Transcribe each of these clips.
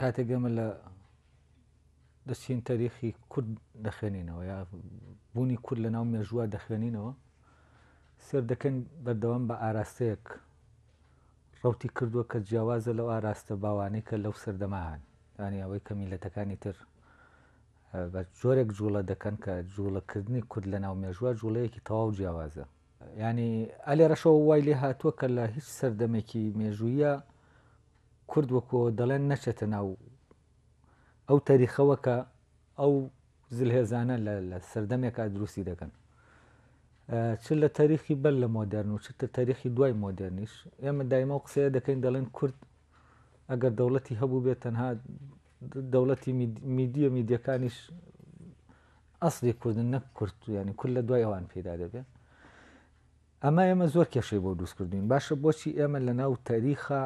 کاتێک ئێمە لە دەچین تەریخی کورد دەخوێنینەوە یا بوونی کورد لە ناو مێژووە دەخوێنینەوە سێر دەکەن بەردەوام بە ئاراستەیەک ڕوتی کردووە کە جیاوازە لەو ئاراستە باوانەی کە لەو سەردەمەهان ینی ئەوەی کە میلەتەکانی تر بە جۆرێک جوڵە دەکەن کە جوڵەکردنی کورد لە ناو مێژووە جوڵەیەکی تەواو جیاوازە یانی ئەلێرەشەوە وای لێ هاتووە کە لە هیچ سەردەمێکی مێژوویە کورد وەکۆ دەڵێن نەچێتە ناو ئەو تەریخەوە کە ئەو زلهێزانە لە سەردەمێکا دروستی دەکەن چ لە تاریخی بەر لە مۆدررن و چ تە تاریخی دوای مۆدررنیش ئێمە دایمە و قسەیە دەکەین دەڵێن کورد ئەگەر دەوڵەتی هەبوو بێت تەنها دەوڵەتی میدیە میدیەکانیش ئەسڵی کوردن نەک کورد یانی کورد لە دوای ئەوان پەیدا دەبێت ئەمە ئێمە زۆر کێشەی بۆ دروست کردوین باشە بۆچی ئێمە لە ناو تاریخا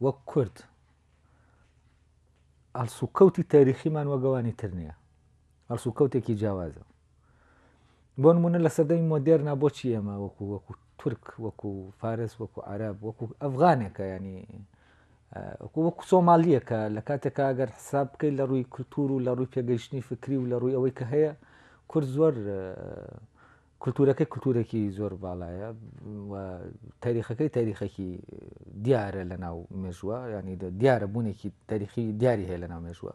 وەک کورد ئەلسوکەوتی تاریخیمان وەگەوانی تر نییە ئەلسوکەوتێکی جیاوازە بۆ نمونە لە سەدەی مۆدێرنا بۆچی ئێمە وەکو وەکو تورک وەکو فارس وەکو عرب وەکو ئەفغانێکە ینی وەکو سۆمالییە کە لە کاتێکا ئەگەر حساب بکەیت لە ڕووی کللتور و لە ڕووی پێگەیشتنی فکری و لە ڕووی ئەوەی کە هەیە کورد زۆر کللتورەکەی کللتورێکی زۆر باڵایە و تاریخەکەی تاریخەکی دیارە لە ناو مێژووە ینی دیارە بوونێکی تاریخی دیاری هەیە لە ناو مێژووە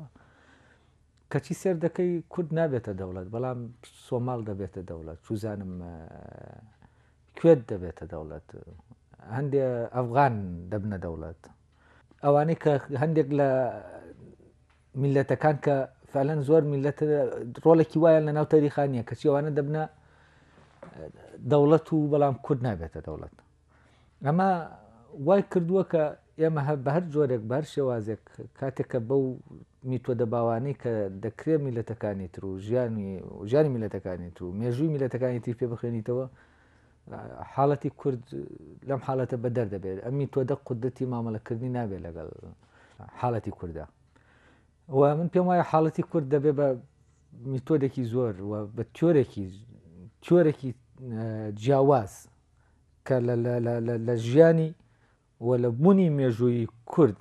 کەچی سێر دەکەی کورد نابێتە دەوڵەت بەڵام سۆماڵ دەبێتە دەوڵەت چوزانم کوێت دەبێتە دەوڵەت هەندێ ئەفغان دەبنە دەوڵەت ئەوانەی کە هەندێک لە میلەتەکان کە فەلەن زۆر میلەت ڕۆڵێکی وایە لە ناو تەریخانیە کە چێوانە دەبنە دەوڵەت و بەڵام کورد نابێتە دەوڵەت ئەمە وای کردووە کە ئێمە هەر بە هەر جۆرێک، بە هەر شێوازێک کاتێک کە بەو میتۆدە باوانەی کە دەکرێ میللەتەکانی تر و ژیانی ژیانی میللەتەکانی تر و مێژووی میللەتەکانی تری پێ بخوێنیتەوە حاڵەتی کورد لەم حاڵەتە بە دەردەبێت ئەم میتۆدە قودرەتی مامەڵەکردنی نابێت لەگەڵ حاڵەتی کوردە و من پێم وایە حاڵەتی کورد دەبێ بە میتۆدێکی زۆر و بە تۆرێکی تۆرێکی جیاواز کە لە ژیانی و لە بونی مێژوویی کورد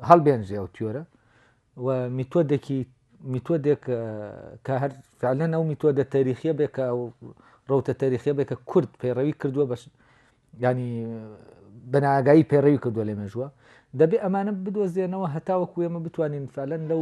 هەڵبێنجێ ئەو تیۆرە و میتۆدێکی میتۆدێک کە هەر فعلەن ئەو میتۆدە تاریخیە بێ کە ڕوتە تاریخیە بێ کە کورد پەیڕەوی کردووە بەش ینی بەناگایی پەیڕەوی کردووە لە مێژووە دەبێ ئەمانە بدۆزێنەوە هەتاوە کوێمە بتوانین فعلەن لەو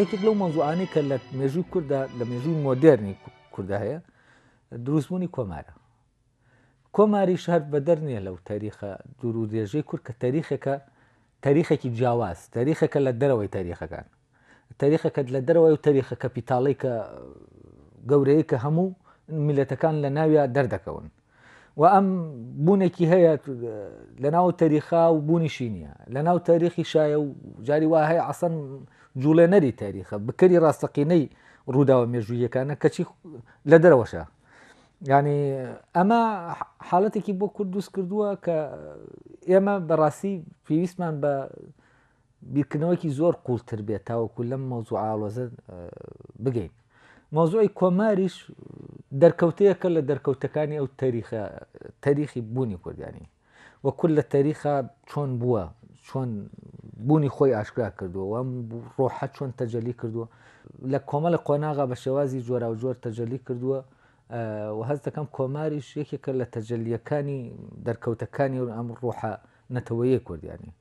یەکێک لەو مەزوعانی کە لە مێژوو کووردا لە مێژووی مۆدررنی کووردا هەیە دروستبوونی کۆمارە کۆماری شار بەدەر نییە لەو تاریخە دوور و درێژەی کورد کە تاریخەکە تاریخێکی جیاواز تاریخەکە لە دەرەوەی تاریخەکان تاریخەکەت لە دەرەوەی و تاریخە کەپیتاڵی کە گەورەیە کە هەموو میلەتەکان لە ناویا دەردەکەون و ئەم بوونێکی هەیە لەناو تەریخا و بوونیشی نییە لەناو تەریخی شایە و جاری وا هەیە ئەسەن جوڵێنەری تاریخە بکەری ڕاستەقینەی ڕووداوە مێژوویەکانە کەچی لە دەرەوەشە ینی ئەمە حاڵەتێکی بۆ کورد دوست کردووە کە ئێمە بەڕاستی پێویستمان بە بیرکردنەوەیەکی زۆر قوڵتر بێت تاوەکو لەم مەوزوع ئاڵۆزە بگەین مەوزوعی کۆماریش دەرکەوتەیەکە لە دەرکەوتەکانی ئەو تەریخە تەریخی بوونی کوردانی وە کورد لە تەریخا چۆن بووە چۆن بوونی خۆی ئاشکرا کردووە وەم ڕۆحە چۆن تەجەلی کردووە لە کۆمەڵە قۆناغا بە شێوازی جۆرا و جۆر تەجەلی کردووە و هەست دەکەم کۆماریش یەکێکە لە تەجلیەکانی دەرکەوتەکانی و ئەم ڕۆحە نەتەوەیە کورد یانی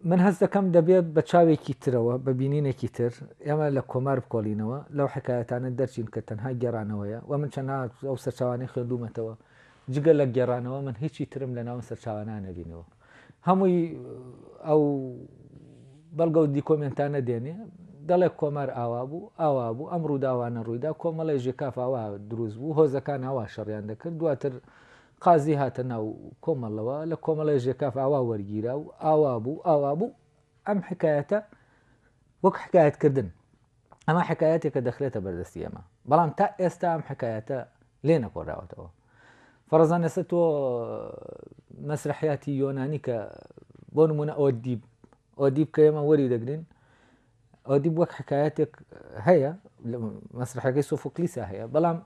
من هەست دەکەم دەبێ بە چاوێکی ترەوە بە بینینێکی تر ئێمە لە کۆمار بکۆڵینەوە لەو حکایەتانە دەرچین کە تەنها گێرانەوەیە و من چەنا ئەو سەرچاوانەی خوێندومەتەوە جگە لە گێرانەوە من هیچی ترم لە ناون سەرچاوانە نەبینەوە هەمووی ئەو بەڵگە و دیکۆمنتانە دێنێ دەڵێ کۆمار ئاوا بوو ئاوا بوو ئەم ڕووداوانە ڕوویدا کۆمەڵی ژێکافاوا دروست بوو هۆزەکان ئاوا شەڕیان دەکرد دواتر قازی هاتە ناو کۆمەڵەوە لە کۆمەڵەی ژێکاف ئاوا وەرگیرا و ئاوا بوو ئاوا بوو ئەم حکایەتە وەک حکایەتکردن ئەمە حکایەتێکە دەخرێتە بەردەستی ئەمە بەڵام تا ئێستا ئەم حکایەتە لێ نەکۆراوەتەوە فەرزان ئێستا تۆ مەسرحیاتی یۆنانی کە بۆ نمونە ئەوە دیب ئەو دیب کە ئێمە وەری دەگرین ئەو دیب وەک حکایەتێک هەیە مەسرحەکەی سۆفۆکلیسا هەیە بەڵام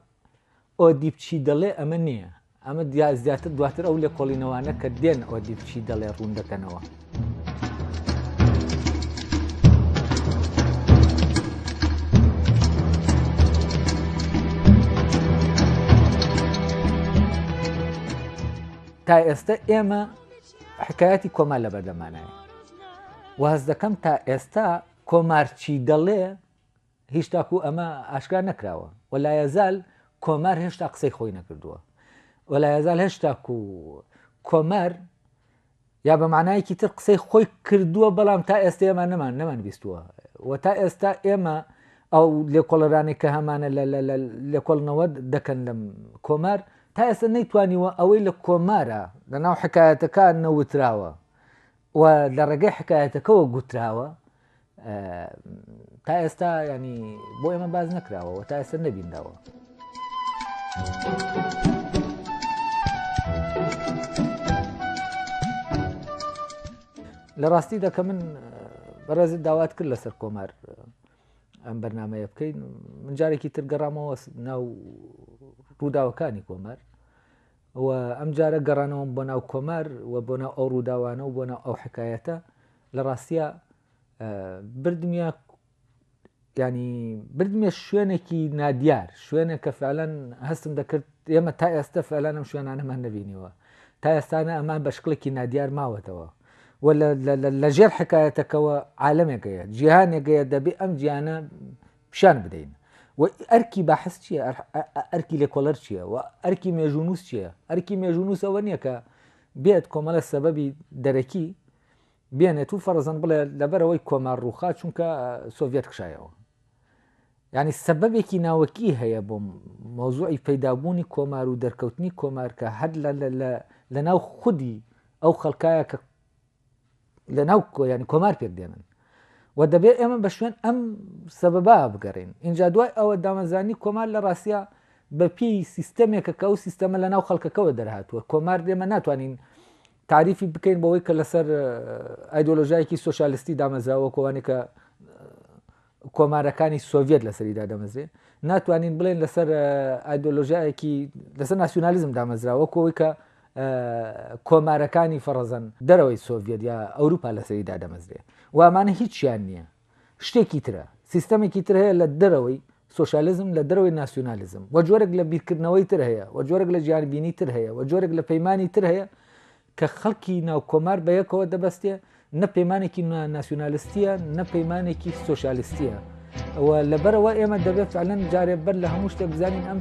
ئۆدیب چی دەڵێ ئەمە نییە. ئەمە زیاتر دواتر ئەو لێکۆڵینەوانە کە دێن ئۆدیب چی دەڵێ ڕوون دەکەنەوە. تا ئێستا ئێمە حکایەتی کۆما لە بەردەمانایە واز دەکەم تا ئێستا کۆمارچی دەڵێ هیچ تاکو ئەمە ئاشکرا نەکراوە و لایەزال کۆمار هێشتا قسەی خۆی نەکردووە و لایەزال هێشتا و کۆمار یا بە معنایەکی تر قسەی خۆی کردووە بەڵام تا ئێستا ئێمە نەمان نەمان بیستووە و تا ئێستا ئێمە ئەو لێکۆڵەرانی کە هەمانە لێکۆڵنەوە دەکەن لەم کۆمار تا ئێستا نەیتوانیوە ئەوەی لە کۆمارە لە ناو حکایەتەکە نەوتراوە و لە ڕێگەی حکایەتەکەەوە گوتراوە تا ئێستا ینی بۆ ئێمە باز نەکراوەوە تا ئێستا نەبینداوە. لە ڕاستی دەکە من بەڕێزت داوات کرد لەسەر کۆمار ئەم بەرنمەیە بکەین من جارێکی تر گەڕامەوە ناو ڕووداوەکانی کۆمار و ئەم جارە گەڕانەوەم بۆ ناو کۆمار و بۆ ناو ئەو ڕووداوانە و بۆ ناو ئەو حکایەتە لە ڕاستیا بردمیە ینی بردمێ شوێنێکی نادیار شوێنە کە فعلەن هەستم دەکرد ئێمە تا ئێستا فعلانم شوێنانەمان نبینیوە تا ئێستانە ئەمان بە شکڵێکی نادیار ماوەتەوە و لە ژێر حکایەتەکەەوە عالمێکەیە جیهانێکەیە دەبێ ئەم جیانە پیشان بدەین و ئەرکی بەحس چییە ئەرکی لێکۆلەر چییە و ئەرکی مێژونوس چییە ئەرکی مێژونوسەوە نییە کە بێت کۆمەلە سەبەبی دەرەکی بێنێت و فەرزەن بڵێ لەبەرەوەی کۆمار ڕووخا چونکە سۆڤەت کشایەوە ینی سەبەبێکی ناوەکی هەیە بۆ مۆزوعی پەیدابوونی کۆمار و دەرکەوتنی کۆمار کە هەر لە ناو خودی ئەو خەڵکایە کە لە ناو کۆیانی کۆمار پێک دێنن و دەبێت ئێمە بە شوێن ئەم سەبەبا بگەڕین اینجا دوای ئەوە دامەزانی کۆمار لە ڕاستە بە پێی سیستەمێکە کە ئەو سیستەمە لە ناو خەڵکەکەەوە دەرهاتووە کۆمار دێمە ناتوانین تاریفی بکەین بەوەی کە لەسەر ئایدۆلۆژایکی سوسیالستی دامەزراوە کۆوانێک کە کۆمارەکانی سۆڤێت لەسەریدا دەمەزرێ ناتوانین بڵێن لەسەر ئایدۆلۆژایەکی لەسەر ناسیونالیزم دامەزراوە کۆی کە کۆمارەکانی فەڕەزەن دەرەوەی سۆڤێت یا ئەوروپا لەسەریدا دەمەزرێ وامانە هیچیان نییە شتێکی ترە، سیستەمێکی تر هەیە لە دەرەوەی سۆشیالیزم، لە دەرەوەی ناسیونالیزم و جۆرێک لە بیرکردنەوەی تر هەیە و جۆرێک لە جیهانبینی تر هەیە و جۆرێک لە پەیمانی تر هەیە کە خەڵکی ناو کۆمار بە یەکەوە دەبەستێ نە پەیمانێکی ناسیونالیستیە نە پەیمانێکی سۆشیالیستیە ئەوە لەبەرەوە ئێمە دەبێت فعلەن جارێ بەر لە هەموو شتێک بزانین ئەم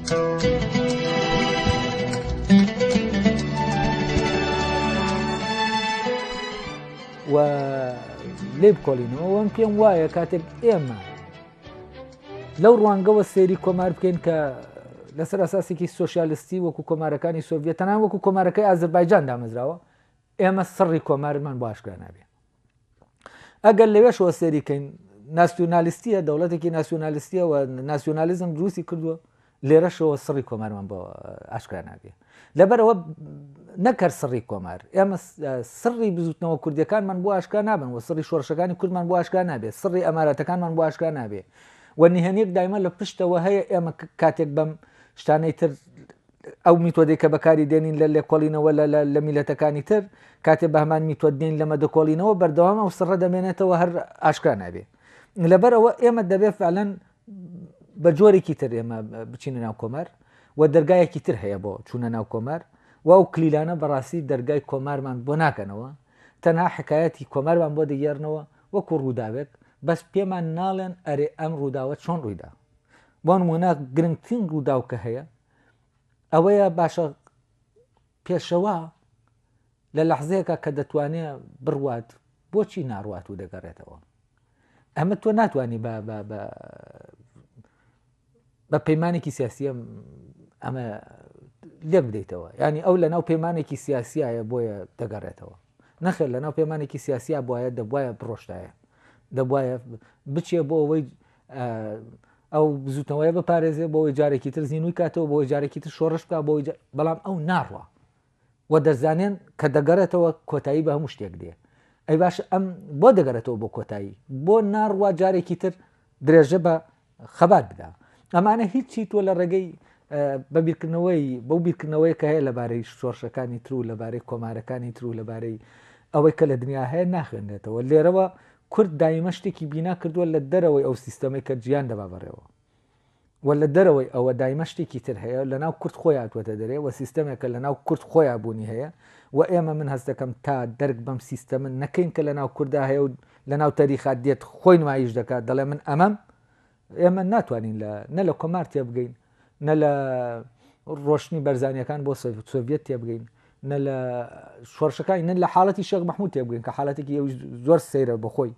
و لێ بکۆڵینەوە وەم پێم وایە کاتێک ئێمە لەو ڕوانگەوە سێری کۆمار بکەین کە لەسەر ئەساسێکی سوسیالستی وەکو کۆمارەکانی سۆڤێت تەنان وەکو کۆمارەکەی ئازربایجان دامەزراوە ئێمە سڕی کۆمارمان بۆ ئاشکرا نابێ ئەگەر لەوێشەوە سێری کەین ناسیۆنالیستیە دەوڵەتێکی ناسیۆنالیستیەوە ناسیۆنالیزم دروستی کردووە لێرەشەوە سڕی کۆمارمان بۆ ئاشکرا نابێ لەبەرەوە نەکەر سڕی کۆمار ئێمە سڕی بزوتنەوە کوردەکانمان بۆ ئاشکا نابن و سڕی شۆرشەکانی کوردمان بۆ ئاشکا نابێت سڕی ئەماراتەکانمان بۆ ئاشکا نابێ و نهێنێک دایمە لە پشتەوە هەیە ئێمە کاتێک بەم شتانەی تر ئەو میتۆدەی کە بەکاری دێنین لە لێکۆڵینەوە لە لە میلەتەکانی تر کاتێ بە هەمان میتۆد دێین لە مەدەکۆڵینەوە بەردەوام ئەو سڕە دەمێنێتەوە هەر ئاشکرا نابێ لەبەر ئەوە ئێمە دەبێ فعلەن بە جۆرێکی تر ئێمە بچینە ناو کۆمار و دەرگایەکی تر هەیە بۆ چوونە ناو کۆمار و ئەو کلیلانە بەڕاستی دەرگای کۆمارمان بۆ ناکەنەوە تەنها حکایەتی کۆمارمان بۆ دەگەێرنەوە وەکو ڕووداوێک بەس پێمان ناڵێن ئەرێ ئەم ڕووداوە چۆن ڕوویدا بۆ نموونە گرنگترین ڕووداو کە هەیە ئەوەیە باشە پێشەوا لە لەحزەیەکە کە دەتوانێت بڕوات بۆچی ناڕوات و دەگەڕێتەوە ئەمە تۆ ناتانی بە پەیمانێکی سیاسیە ئەمە لێ بدەیتەوە ینی ئەو لە ناو پەیمانێکی سیاسیایە بۆیە دەگەڕێتەوە نەخێر لە ناو پەیمانێکی سیاسیا بواە دەبواە بڕۆشتایە دەبواە بچێ بۆ ئەوەی ئەو بزوتنەوەیە بپارێزێ بۆەوەی جارێکی تر زیینوی کاتەوە بۆ جارێکی تر شۆڕش بکە بۆ بەڵام ئەو ناڕوە و دەزانێن کە دەگەڕێتەوە کۆتایی بە هەموو شتێک دێ ئەی باش ئەم بۆ دەگەرێتەوە بۆ کۆتایی بۆ ناڕوا جارێکی تر درێژە بە خەبات بدا ئەمانە هیچی تۆ لە ڕێگەی بە بیرکردنەوەی بەو بیرکردنەوەی کە هەیە لەبارەی شۆرشەکانی تر و لەبارەی کۆمارەکانی تر و لەبارەی ئەوەی کە لە دنیا هەیە ناخوێنێتەوە لێرەوە کورد دایمە شتێکی بینا کردووە لە دەرەوەی ئەو سیستەمەی کە جیان دەبا بەڕێوە و لە دەرەوەی ئەوە دایمە شتێکی تر هەیە لە ناو کورد خۆی هاتووەتە دەرێ و سیستەمێکە لە ناو کورد خۆیان بوونی هەیە و ئێمە من هەست دەکەم تا دەرک بەم سیستەمە نەکەین کە لە ناو کوردا هەیە و لە ناو تەریخات دێت خۆی نمایش دەکات دەڵێ من ئەمەم ئێمە ناتوانین لە نە لە کۆمار تێبگەین نە لە ڕۆشتنی بەرزانیەکان بۆ سۆڤەت تێبگەین نە لە شۆرشەکانی نە لە حاڵەتی شێخ مححمود تێبگەین کە حالەتێکی ئەو زۆر سەیرە بەخۆی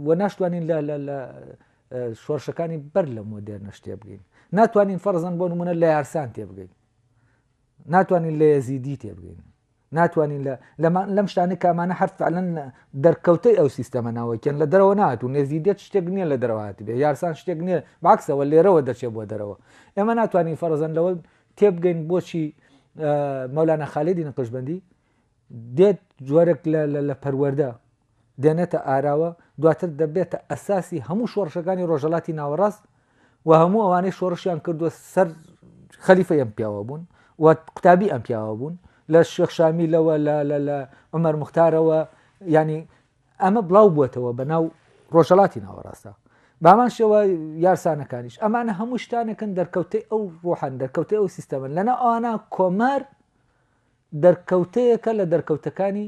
و ناشتوانین لە لە شۆرشەکانی بەر لە مۆدێر نەشتێ بگەین ناتوانین فەرزان بۆ نمونە لە یارسان تێبگەین ناتوانین لە یزیدی تێبگەین ناتوانین لە لەمان لەم شتانە کە ئەمانە هەر فعلەن دەرکەوتەی ئەو سیستەمە ناوەکیان لە دەرەوە نهاتوون نێزیدیەت شتێک نییە لە دەرەوە هاتبێ یارسان شتێک نییە بەعەکسەوە لێرەوە دەچێ بۆ دەرەوە ئێمە ناتوانین فەرەزەن لەوە تێبگەین بۆچی مەولانا خالدی نەقشبەندی دێت جۆرێک لە لە پەروەەردە دێنێتە ئاراوە دواتر دەبێتە ئەساسی هەموو شۆڕشەکانی ڕۆژەلاتی ناوەڕاست و هەموو ئەوانەی شۆڕشیان کردووە سەر خەلیفە ئەم پیاوە بوون و قوتابی ئەم پیاوە بوون لە شێخشامی لەوە لە عمەر مختارەوە ینی ئەمە بڵاو بووەتەوە بە ناو ڕۆژەڵاتی ناوەڕاستە بامان شێوە یارسانەکانیش ئەمانە هەموو شتانەکەن دەرکەوتەی ئەو ڕۆحان دەرکەوتە ئەو سیستەمن لەنا ئەوانە کۆمار دەرکەوتەیەکە لە دەرکەوتەکانی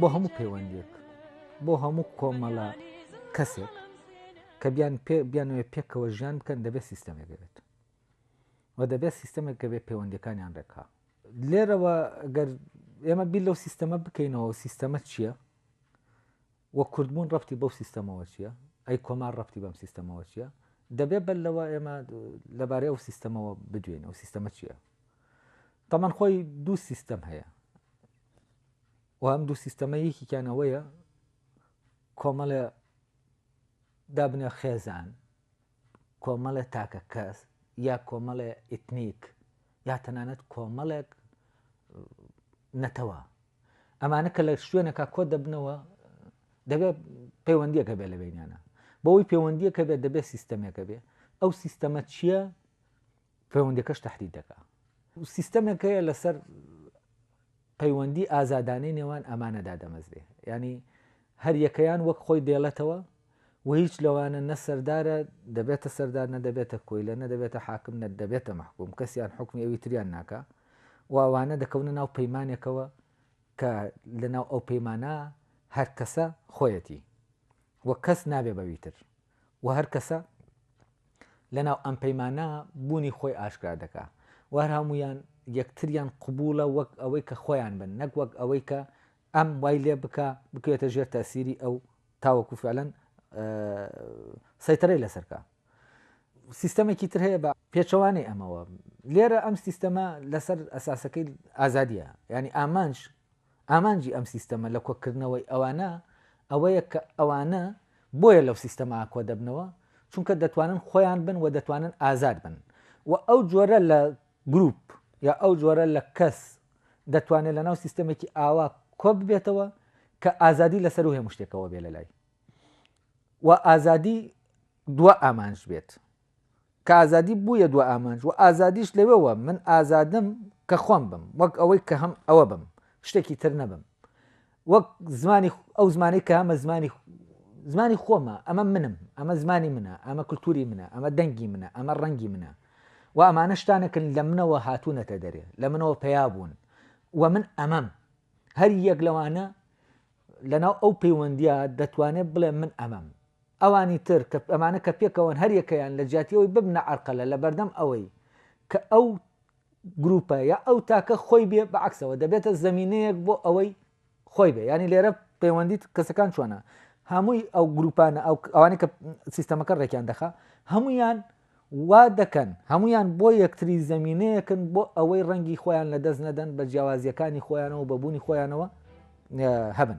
بۆ هەموو پەیوەندێک بۆ هەموو کۆمەڵە کەسێک کە بیان پێ بیانەوە پێکەوە ژیان بکەن دەبێت سیستەمێک بێت و دەبێت سیستەمێک کە بێت پەیوەندەکانیان ڕێکا لێرەوە گەر ئێمە بیر لەو سیستەمە بکەینەوە سیستەمە چییە وە کوردبوون ڕەبتی بەو سیستەمەوە چییە؟ ئەی کۆمار ڕەبتی بەم سیستەمەوە چییە؟ دەبێ بەر لەوە ئێمە لەبارەی ئەو سیستەمەوە بدوێین، ئەو سیستەمە چییە؟ تەمان خۆی دوو سیستەم هەیە و ئەم دوو سیستەمە یەکیان ئەوەیە کۆمەڵە دابنە خێزان کۆمەڵێ تاکە کەس یا کۆمەڵێ ئیتنیک یا تەنانەت کۆمەڵێک نەتەوە ئەمانە کە لە شوێنەکە کۆ دەبنەوە دەبێت پەیوەندیەکە بێ لە بینیانە بۆی پەیوەندیەکە بێت دەبێت سیستەمێکە بێ ئەو سیستەمە چییە پەیوەندیەکەش تەحدید دەکا. سیستەمێک هەیە لەسەر پەیوەندی ئازادانەی نێوان ئەمانە دادەمەزرێ ینی هەر یەکەیان وەک خۆی دێڵێتەوە و هیچ لەوانە نە سەردارە دەبێتە سەردار نە دەبێتە کۆیلە نە دەبێتە حاکم نە دەبێتە محکوم کەسیان حکمی ئەوی تریان ناکە واوانە دەکەونە ناو پەیمانێکەوە کە لەناو ئەو پەیمانە هەر کەسە خۆیەتی وە کەس نابێ بەویتر وە هەر کەسە لەناو ئەم پەیمانە بوونی خۆی ئاشکرا دەکا و هەر هەموویان یەکتریان قبوڵە وەک ئەوەی کە خۆیان بن نەک وەک ئەوەی کە ئەم وای لێ بکا بکوێتە ژێر تاسیری ئەو تاوەکو فعلەن سەیتەرەی لەسەرکە سیستەمێکی تر هەیە بە پێچەوانەی ئەمەوە لێرە ئەم سیستەمە لەسەر ئەساسەکەی ئازادیە ینی ئامانج ئامانجی ئەم سیستەمە لە کۆکردنەوەی ئەوانە ئەوەیە کە ئەوانە بۆیە لەو سیستەمە کۆدەبنەوە چونکە دەتوانن خۆیان بن و دەتوانن ئازاد بن و ئەو جۆرە لە گروپ یا ئەو جۆرە لە کەس دەتوانێت لەناو سیستەمێکی ئاوا کۆببێتەوە کە ئازادی لەسەر و هەموو شتێکەوە بێ لەلای و ئازادی دوا ئامانج بێت. کە ئازادی بوویە دوا ئامانج و ئازادیش لەوێوە من ئازادم کە خۆم بم وەک ئەوەی کە هەم ئەوە بم شتێکی تر نەبم وەک زمانی ئەو زمانەی کە ئەمە زمانی زمانی خۆمە ئەمە منم ئەمە زمانی منە ئەمە کللتوری منە ئەمە دەنگی منە ئەمە ڕەنگی منە و ئەمانە شتانەکن لە منەوە هاتوونەتە دەرێ لە منەوە پیا بوون و من ئەمەم هەر یەک لەوانە لەناو ئەو پەیوەندیە دەتوانێت بڵێ من ئەمەم ئەوانی تر کە ئەمانە کە پێکەوەن هەر یەکەیان لە جیاتی ئەوەی ببنە عەرقەلە لە بەردەم ئەوەی کە ئەو گرووپە یا ئەو تاکە خۆی بێ بە عەکسەوە دەبێتە زەمینەیەک بۆ ئەوەی خۆی بێ یانی لێرە پەیوەندیت کەسەکان چۆنە هەمووی ئەو گرووپانە ئەو ئەوانەی کە سیستەمەکە ڕێکیان دەخا هەموویان وا دەکەن، هەموویان بۆ یەکتری زەمینەیەکن بۆ ئەوەی ڕەنگی خۆیان لەدەست نەدەن، بە جیاوازییەکانی خۆیانەوە و بە بوونی خۆیانەوە هەبن.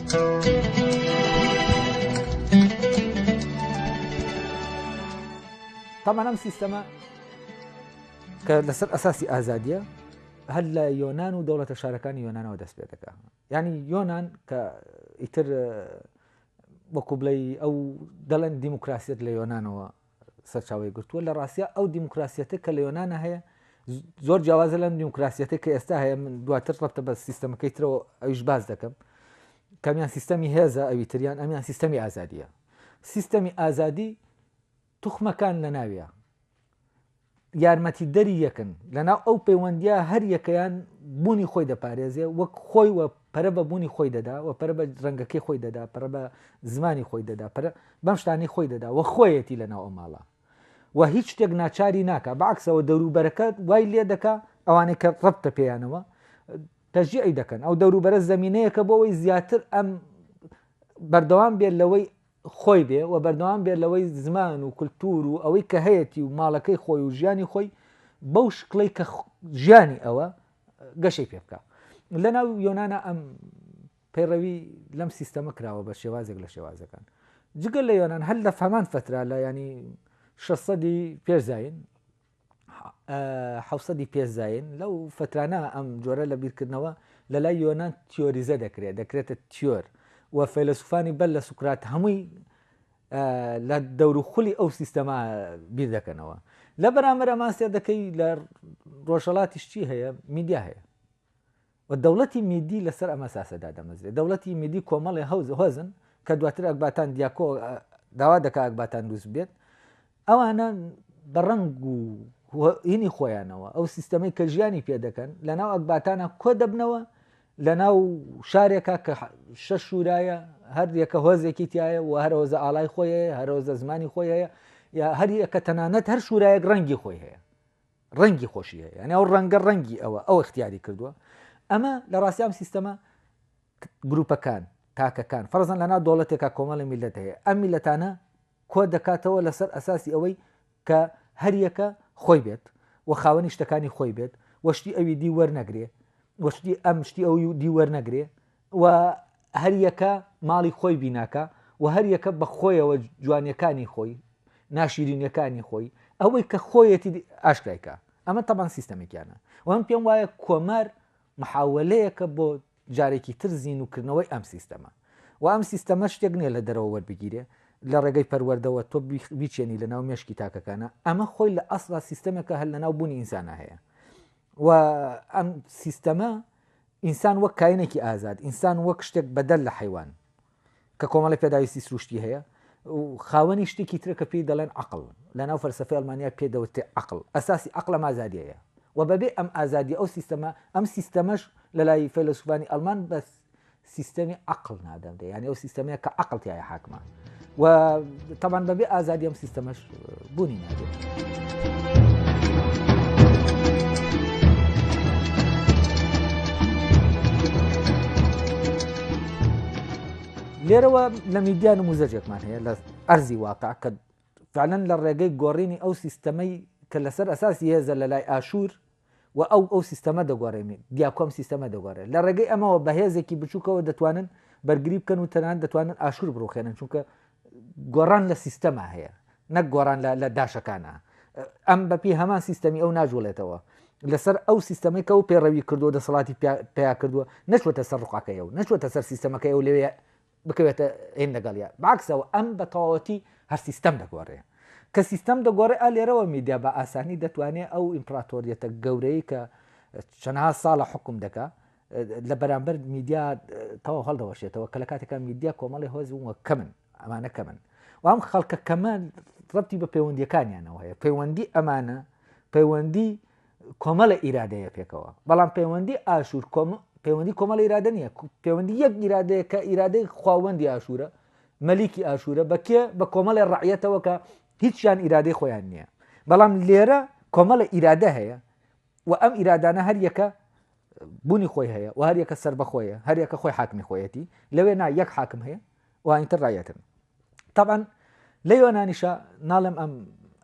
تامان ئەم سیستەمە کە لەسەر ئەساسی ئازادیە هەر لە یۆناان و دەوڵەتە شارەکانی یۆنانەوە دەست پێ دەکە ینی یۆناان کە ئیتر وەکو بڵێ ئەو دەڵێن دیموکراسیت لە یۆنانەوە سەرچاوەی گرتووە، لە ڕاستیا ئەو دیموکراسیەتە کە لە یۆنانا هەیە زۆر جیاوازە لەم دیموکراسیەتە کە ئێستا هەیە من دواتر ڕەبتە بە سیستەمەکەی ترەوە ئەوش باز دەکەم کەمیان سیستەمی هێزە ئەوی تریان ئەمیان سیستەمی ئازادیە سیستەمی ئازادی توخمەکان لە ناویە یارمەتیدەری یەکن لەناو ئەو پەیوەندییە هەر یەکەیان بوونی خۆی دەپارێزێ وەک خۆی وە پەرە بە بوونی خۆی دەدا وە پەرە بە ڕەنگەکەی خۆی دەدا پەرە بە زمانی خۆی دەدا پەرە بەم شتانەی خۆی دەدا وە خۆیەتی لەناو ئەو ماڵە و هیچ شتێک ناچاری ناکە بەعکسەوە دەوروبەرەکە وای لێ دەکا ئەوانەی کە ڕەبتە پێیانەوە تەژیعی دەکەن ئەو دەوروبەرە زمینەیەکە بۆ ئەوەی زیاتر ئەم بەردەوام بێت لەوەی خۆی بێ و بەردەوام بێت لەوەی زمان و کلتور و ئەوەی کە هەیەتی و ماڵەکەی خۆی و ژیانی خۆی بەو شکڵی کە ژیانی ئەوە گەشەی پێ بکە لە ناو یۆنانا ئەم پەیڕەوی لەم سیستەمە کراوە بە شێوازێک لە شێوازەکان جگە لە یۆناان هەر لە فەمان فترا لە ینی 600 پێزین حەوسەدی پێ زایین لەو فترانە ئەم جۆرە لە بیرکردنەوە لە لای یۆنان تیۆریزە دەکرێت دەکرێتە تیۆر و فەیلسوفانی بەر لە سوکرات هەمووی لە دەور و خولی ئەو سیستەما بیر دەکەنەوە لە بەرامەر ئەماسیە دەکەی لە ڕۆژەڵاتیشتی هەیە میدیا هەیە و دەوڵەتی میدی لەسەر ئەم ئەساسە دادەمەزرێت. دەوڵەتی میدی کۆمەڵێ هەوز، هۆزن کە دواتر ئەکباتان دیاکۆ داوا دەکات ئەکباتان دروست ببێت. ئەوانە بە ڕەنگ و هینی خۆیانەوە ئەو سیستەمەی کە ژیانی پێ دەکەن لە ناو ئەکباتانە کۆ دەبنەوە لە ناو شارێکە کە شەش شورایە هەر یەکە هۆزێکی تایە و هەر هۆزە ئاڵای خۆی هەیە هەر هۆزە زمانی خۆی هەیە یا هەر یەکە تەنانەت هەر شورایەک ڕەنگی خۆی هەیە ڕەنگی خۆشی هەیە یعنی ئەو ڕەنگە ڕەنگی ئەوە ئەو اختیاری کردووە ئەمە لە ڕاستی ئەم سیستەمە گروپەکان تاکەکان فەرزان لەنا دەوڵەتێکا کۆمەڵی میلەت هەیە ئەم میلەتانە کۆ دەکاتەوە لەسەر ئەساسی ئەوەی کە هەریەکە خۆی بێت و خاوەنی شتەکانی خۆی بێت وەشتی ئەوی دی وەرنەگرێ وەشتی ئەم شتی ئەو دی وەرنەگرێ و هەریەکە ماڵی خۆی بیناکا و هەریەکە بە خۆیەوە جوانیەکانی خۆی ناشیرینیەکانی خۆی ئەوەی کە خۆیەتی ئاشکرایکە ئەمە تەبان سیستەمێکیانە و من پێم وایە کۆمار محاولەیەکە بۆ جارێکی تر زین و کردنەوەی ئەم سیستەمە و ئەم سیستەمە شتێک نییە لە دەرەوە وەربگیرێ لە ڕێگەی پەروەردەوە تۆ بیچێنی لە ناو مێشکی تاکەکانە ئەمە خۆی لە ئەسڵا سیستەمێکە هەر لە ناو بوونی ئینسانە هەیە و ئەم سیستەمە ئینسان وەک کاینێکی ئازاد، ئینسان وەک شتێک بەدەر لە حەیوان، کە کۆمەڵی پێداویستی سروشتی هەیە و خاوەنی شتێکی ترە کە پێی دەڵێن عەقڵ، لەناو فەلسەفەی ئەڵمانیا پێی دەوترێ عەقڵ، ئەساسی عەقڵ ئەم ئازادیەیە و بەبێ ئەم ئازادیە ئەو سیستەمە، ئەم سیستەمەش لەلای فەیلەسوفانی ئەڵمان بە سیستەمی عەقڵ نادەبرێ، یانی ئەو سیستەمەیە کە عەقڵ تیایا حاکمە. و تەمان بەبێ ئازادی ئەم سیستەمەش بوونی نابێت. لێرەوە لە میدیان و موزەجێکمان هەیە لە ئەرزی واقع کە فعلەن لە ڕێگەی گۆڕینی ئەو سیستەمەی کە لەسەر ئەساسی هێزە لە لای ئاشوور و ئەو ئەو سیستەمە دەگۆڕێنی، دیاکۆ ئەم سیستەمە دەگۆڕێت. لە ڕێگەی ئەمەوە بە هێزێکی بچووکەوە دەتوانن بەرگری بکەن و تەنانەت دەتوانن ئاشوور بڕووخێنن، چونکە گۆڕان لە سیستەما هەیە نەک گۆڕان لە داشەکانا. ئەم بەپێی هەمان سیستەمی ئەو ناجوڵێتەوە. لەسەر ئەو سیستەمەی کە ئەو پێڕەوی کردووە دەسەڵاتی پیا کردووە نەچووەتە سەر ڕقەکەی ئەو، نەچووەتە سەر سیستەمەکەی ئەو لەوێ بکەوێتە هین لەگەڵیا بەعەکسەوە ئەم بە تەواوەتی هەر سیستەم دەگۆڕێ کە سیستەم دەگۆڕێ ئا لێرەوە میدیا بە ئاسانی دەتوانێ ئەو ئیمپراتۆریەتە گەورەی کە چەنها ساڵە حکم دەکا لە بەرامبەر میدیا تەواو هەڵدەوەشێتەوە کە لە کاتێکە میدیا کۆمەڵی هۆز وە کەمن ئەمانە کەمن وام خەڵکە کەمە ڕەتی بە پەیوەندیەکانیانەوە هەیە پەیوەندی ئەمانە پەیوەندی کۆمەڵە ئیرادەیە پێکەوە بەڵام پەیوەندی ئاشور پەیوەندی کۆمەڵە ئیرادە نییە پەیوەندی یەک ئیرادەیە کە ئیرادەی خواوەندی ئاشورە مەلیکی ئاشورە بەکێ بە کۆمەڵی ڕعەتەوە کە هیچیان ئیرادەی خۆیان نییە بەڵام لێرە کۆمەڵە ئیرادە هەیە و ئەم ئیرادانە هەر یەکە بوونی خۆی هەیە و هەر یەکە سەر بەخۆیە هەر یەکە خۆی حاکمی خۆیەتی لەوێ نا یەک حاکم هەیە وانیتر ڕایەتن تەبعەن لە یۆنانیشە ناڵێم ئەم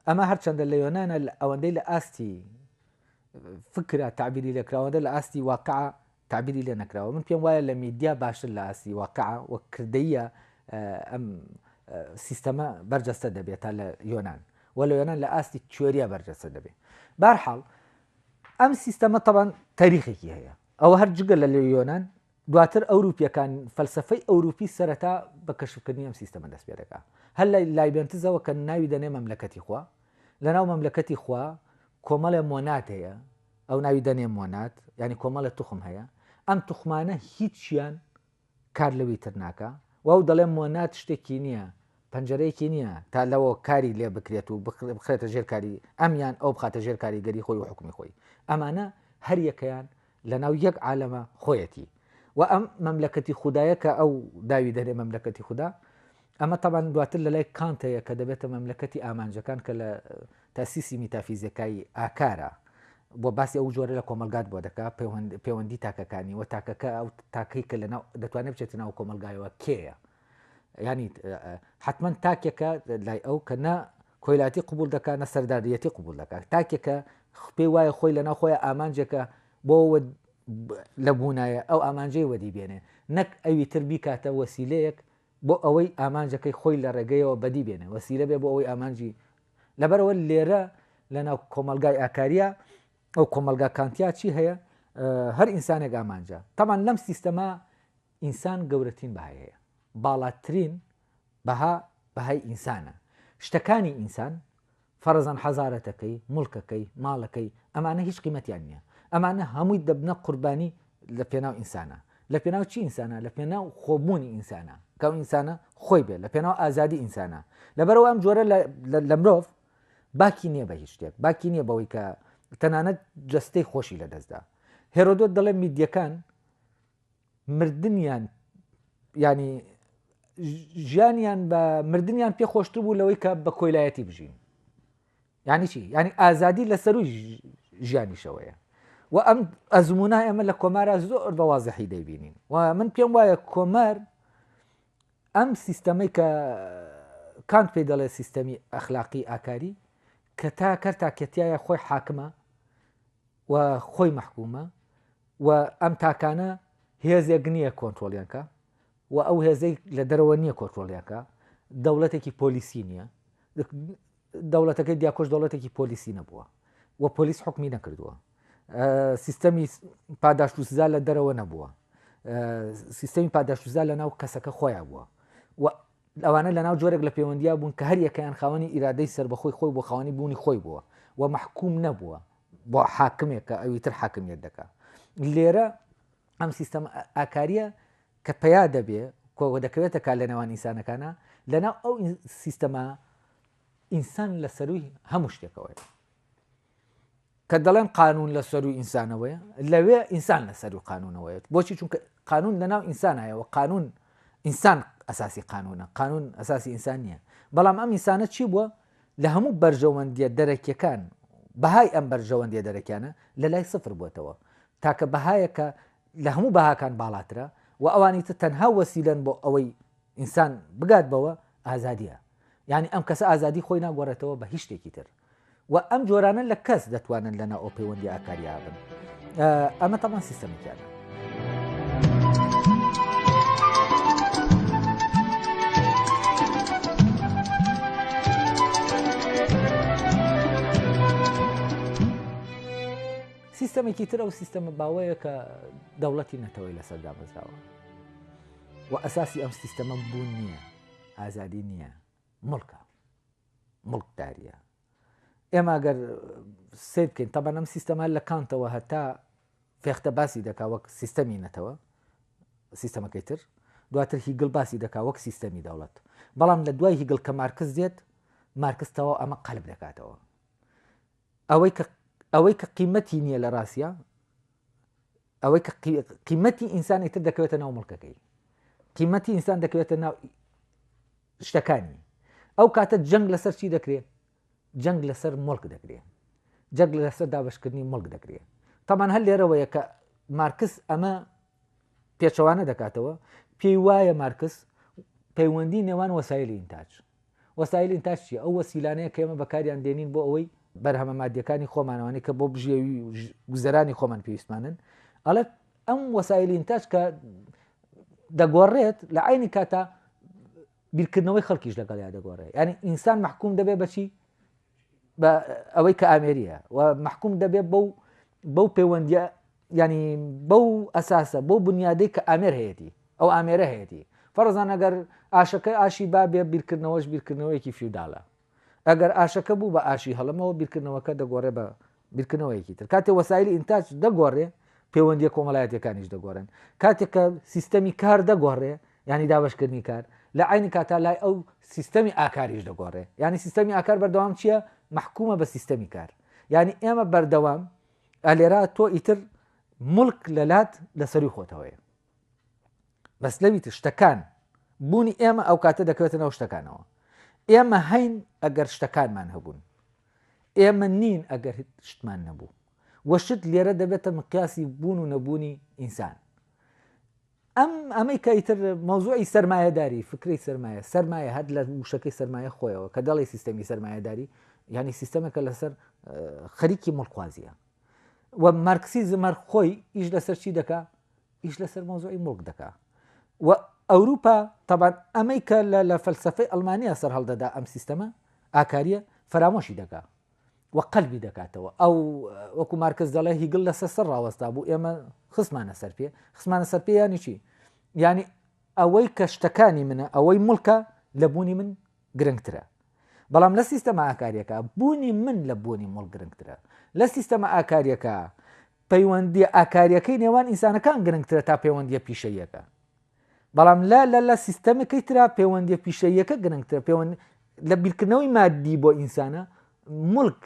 ئەمە هەرچەندە لە یۆنانە ئەوەندەی لە ئاستی فکرە تعبیری لەکراوەدە لە ئاستی واقع تعبیری لێ نەکراوە من پێم وایە لە میدیا باشتر لە ئاستی واقع و کردەیە ئەم سیستەمە بەرجەستە دەبێت تا لە یۆناان و لە یۆناان لە ئاستی تیۆریە بەرجەستە دەبێت بارحاڵ ئەم سیستەمە تەبان تاریخێکی هەیە ئەوە هەر جگە لە لە یۆناان دواتر ئەوروپییەکان، فەلسەفەی ئەوروپی سەرەتا بە کەشفکردنی ئەم سیستەمە دەست پێدەکا. هەر لە لایبێنتزەوە کە ناوی دەنێ مەملەکەتی خوا، لەناو مەملەکەتی خوا کۆمەڵێ مۆناد هەیە، ئەو ناوی دەنێ مۆناد، یانی کۆمەڵێ توخم هەیە، ئەم توخمانە هیچیان کار لەوی تر ناکا و ئەو دەڵێ مۆناد شتێکی نییە، پەنجەرەیەکی نییە تا لەوە کاری لێ بکرێت و بخرێتە ژێر کاری ئەم یان ئەو بخاتە ژێر کاریگەری خۆی و حوکمی خۆی. ئەمانە هەریەکەیان لەناو یەک عالەمە خۆیەتی و ئەم مەملەکەتی خوددایە کە ئەو داوی دەرێ مەملەکەتی خوددا ئەمە تەبان دواتر لە لای کانتەیە کە دەبێتە مەملەکەتی ئامانجەکان کە لە تاسیسی میتافیزیەکایی ئاکارە بۆ باسی ئەو جۆرە لە کۆمەلگات بۆ دەکا پەیوەندی تاکەکانی وە تاکەکە ئەو تاکەی کە لە دەتوانێت بچێتە ناو کۆمەلگایەوە کێیە ینی حتمما تاکێکە لای ئەو کە نە کۆیلاتی قبوڵ دەکات نە سەرداریەتی قبوڵ دەکات تاکێکە پێی وایە خۆی لەناو خۆی ئامانجێکە بۆ لە بوونایە ئەو ئامانجەی وەدی بێنێ نەک ئەوی تر بیکاتە وەسیلەیەک بۆ ئەوەی ئامانجەکەی خۆی لە ڕێگەیەوە بەدی بێنێ وەسیلە بێ بۆ ئەوەی ئامانجی لەبەرەوە لێرە لەناو کۆمەلگای ئاکاریە ئەو کۆمەلگا کانتیا چی هەیە هەر ئینسانێک ئامانجە تەمان لەم سیستەما ئینسان گەورەترین بەهای هەیە، باڵاترین بەها بەهای ئینسانە، شتەکانی ئینسان، فەرەزەن حەزارەتەکەی، موڵکەکەی، ماڵەکەی، ئەمانە هیچ قیمەتیان نییە، ئەمانە هەمووی دەبنە قوربانی لە پێناو ئینسانا، لە پێناو چی ئینسانا؟ لە پێناو خۆ بوونی ئینسانا، کە ئەو ئینسانە خۆی بێت، لە پێناو ئازادی ئینسانا، لەبەرئەوە ئەم جۆرە لە مرۆڤ باکی نییە بە هیچ شتێک، باکی نییە بەوەی کە تەنانەت جەستەی خۆشی لەدەستدا، هێرۆدۆت دەڵێت میدیەکان مردنیان ینی ژیانیان بە مردنیان پێ خۆشتر بوو لەوەی کە بە کۆیلایەتی بژین ینی چی ینی ئازادی لە سەروی ژیانیشەوەیە و ئەم ئەزمونە ئێمە لە کۆمارە زۆر بە وازەحی دەیبینین و من پێم وایە کۆمەر ئەم سیستەمەی کە کانت پێ دەڵێ سیستەمی ئەخلاقی ئاکاری کە تا کەر تاکەتیایە خۆی حاکمە و خۆی مححکومە و ئەم تاکانە هێزێک نییە کۆنترۆڵیان کا و ئەو هێزەی لە دەرەوە نییە کۆنترۆڵیان کا، دەوڵەتێکی پۆلیسی نییە، دەوڵەتەکەی دیاکۆش دەوڵەتێکی پۆلیسی نەبووە و پۆلیس حکمی نەکردووە، سیستەمی پاداشت و سزا لە دەرەوە نەبووە، سیستەمی پاداشت و سزا لە ناو کەسەکە خۆیان بووە و ئەوانە لە ناو جۆرێک لە پەیوەندیا بوون کە هەر یەکەیان خاوەنی ئیرادەی سربەخۆی خۆی بۆ خاوەنی بوونی خۆی بووە و مەحکوم نەبووە بۆ حاکمێک کە ئەوی تر حاکمیت دەکا لێرە ئەم سیستەم ئاکاریە کە پیا دەبێ کۆوە دەکەوێتە کا لە نێوان ئینسانەکانە لەناو ئەو سیستەما ئینسان لە سەروی هەموو شتێکەوەی کە دەڵێن قانون لە سەر و ئینسانەوەی لەوێ ئینسان لە سەر و قانونەوەیت بۆچی چونکە قانون لەناو ئینسانایەوە قانون ئینسان ئەساسی قانونە قانون ئەساسی ئینسان نییە بەڵام ئەم ئینسانە چی بووە لە هەموو بەرژەوەندیە دەرەکیەکان بەهای ئەم بەرژەوەندیە دەرەکیانە لە لای سفر بوەتەوە، تاکە بەهایەک کە لە هەموو بەهاکان باڵاترە و ئەوانی تر تەنها وەسیلەن بۆ ئەوەی ئینسان بگات بەوە، ئازادیە. یانی ئەم کەسە ئازادی خۆی ناگۆرێتەوە بە هیچ شتێکی تر و ئەم جۆرانە لە کەس دەتوانن لە نائۆ پەیوەندی ئاکاریابن. ئەمە تەبان سیستەمێکیانە. سیستەمێکی تر ئەو سیستەمە باوەیە کە دەوڵەتی نەتەوەی لەسەر دامەزراوە و ئەساسی ئەم سیستەمە بوون نییە ئازادی نییە مڵکە مڵکداریە ئێمە گەر سیر بکەین تەبەن ئەم سیستەما لە کانتەوە هەتا فێختە باسی دەکا وەک سیستەمی نەتەوە سیستەمەکەی تر دواتر هیگل باسی دەکا وەک سیستەمی دەوڵەت بەڵام لە دوای هیگل کە مارکز دێت مارکستەوە ئەمە قەلب دەکاتەوە ئەوەی کە ئەوەی کە قیمەتی نییە لە ڕاستە ئەوەی کە قیمەتی ئینسانی تر دەکەوێتە ناو مڵکەکەی قیمەتی ئینسان دەکەوێتە ناو شتەکانی، ئەو کاتە جەنگ لەسەر چی دەکرێ؟ جەنگ لەسەر موڵک دەکرێ. جەنگ لەسەر دابەشکردنی موڵک دەکرێ. تەبان هەر لێرەوەیە کە مارکس ئەمە پێچەوانە دەکاتەوە، پێی وایە مارکس پەیوەندی نێوان وەسایلی ئینتاج. وەسایل ئینتاج چیە؟ ئەو وەسیلانەیە کە ئێمە بەکاریان دێنین بۆ ئەوەی بەرهەمە مادیەکانی خۆمانەوانی کە بۆ بژێوی گوزەرانی خۆمان پێویستمانن ئەڵێت ئەم وەسایلی ئینتاج کە دەگۆڕێت لە عینی کاتا بیرکردنەوەی خەڵکیش لەگەڵ یا دەگۆڕێت ینی ئینسان محکوم دەبێ بەچی بە ئەوەی کە ئامێریە و محکوم دەبێت بەو بەو پەیوەندە ینی بەو ئەساسە بۆ بنیادەی کە ئامێر هەیەی ئەو ئامێرە هەیەی فەرزان ئەگەر ئاشەکە ئاشی بابێ بیرکردنەوەش بیرکردنەوەیەکی فیوداڵە ئەگەر ئاشەکە بوو بە ئاشی هەڵەمەوە بیرکردنەوەکە دەگۆڕێ بە بیرکردنەوەیەکی تر. کاتێ وەسایلی ئینتاج دەگۆڕێ پێوەندییە کۆمەڵایەتییەکانیش دەگۆڕێن. کاتێ کە سیستەمی کار دەگۆڕێ یانی دابەشکردنی کار، لە عەینی کاتا لای ئەو سیستەمی ئاکاریش دەگۆڕێ. یانی سیستەمی ئاکار بەردەوام چییە؟ مەحکومە بە سیستەمی کار. یانی ئێمە بەردەوام ئەلێرا تۆ ئیتر موڵک لەلات لە سەرووی خۆتەوەیە. بەس لەوی تر شتەکان بوونی ئێمە ئەو کاتە دەکەوێتە نەو شتەکانەوە ئێمە هەین ئەگەر شتەکانمان هەبوون ئێمە نین ئەگەر شتمان نەبوو وەشت لێرە دەبێتە مقیاسی بوون و نەبوونی ئینسان ئەم ئەمەی کە ئیتر مەوزوعی سرمایهداری فکری سرمایە سرمایە هەر لە وشەکەی سرمایە خۆیەوە کە دەڵی سیستەمی سرمایهداری ینی سیستەمەکە لەسەر خەریکی مڵخوازیە و مارکسیزمەر خۆی ئیش لەسەر چی دەکە ئیش لەسەر مەوزوعی موڵک دەکا و ئەوروپا تەبان ئەمەی کە لە فەلسەفەی ئەلمانیا سەر هەڵدەدا ئەم سیستەمە ئاکاریە فەرامۆشی دەکا و قەلبی دەکاتەوە ئەو وەکو مارکز دەڵێ هیگل لە سەر سەر ڕاوەستا بوو ئێمە خسمانە سەر پێ خسمانە سەر پێ ینی چی ینی ئەوەی کە شتەکانی منە ئەوەی ملکە لە بوونی من گرنگترە بەڵام لە سیستەما ئاکاریەکە بوونی من لە بوونی مڵ گرنگترە لە سیستەما ئاکاریەکە پەیوەندییە ئاکارییەکەی نێوان ئینسانەکان گرنگترە تا پەیوەندییە پیشەییەکە. بەڵام لە لە لە سیستەمەکەی ترا پەیوەندییە پیشەییەکە گرنگترە، پەیوەند لە بیرکردنەوەی مادی بۆ ئینسانە، مولک،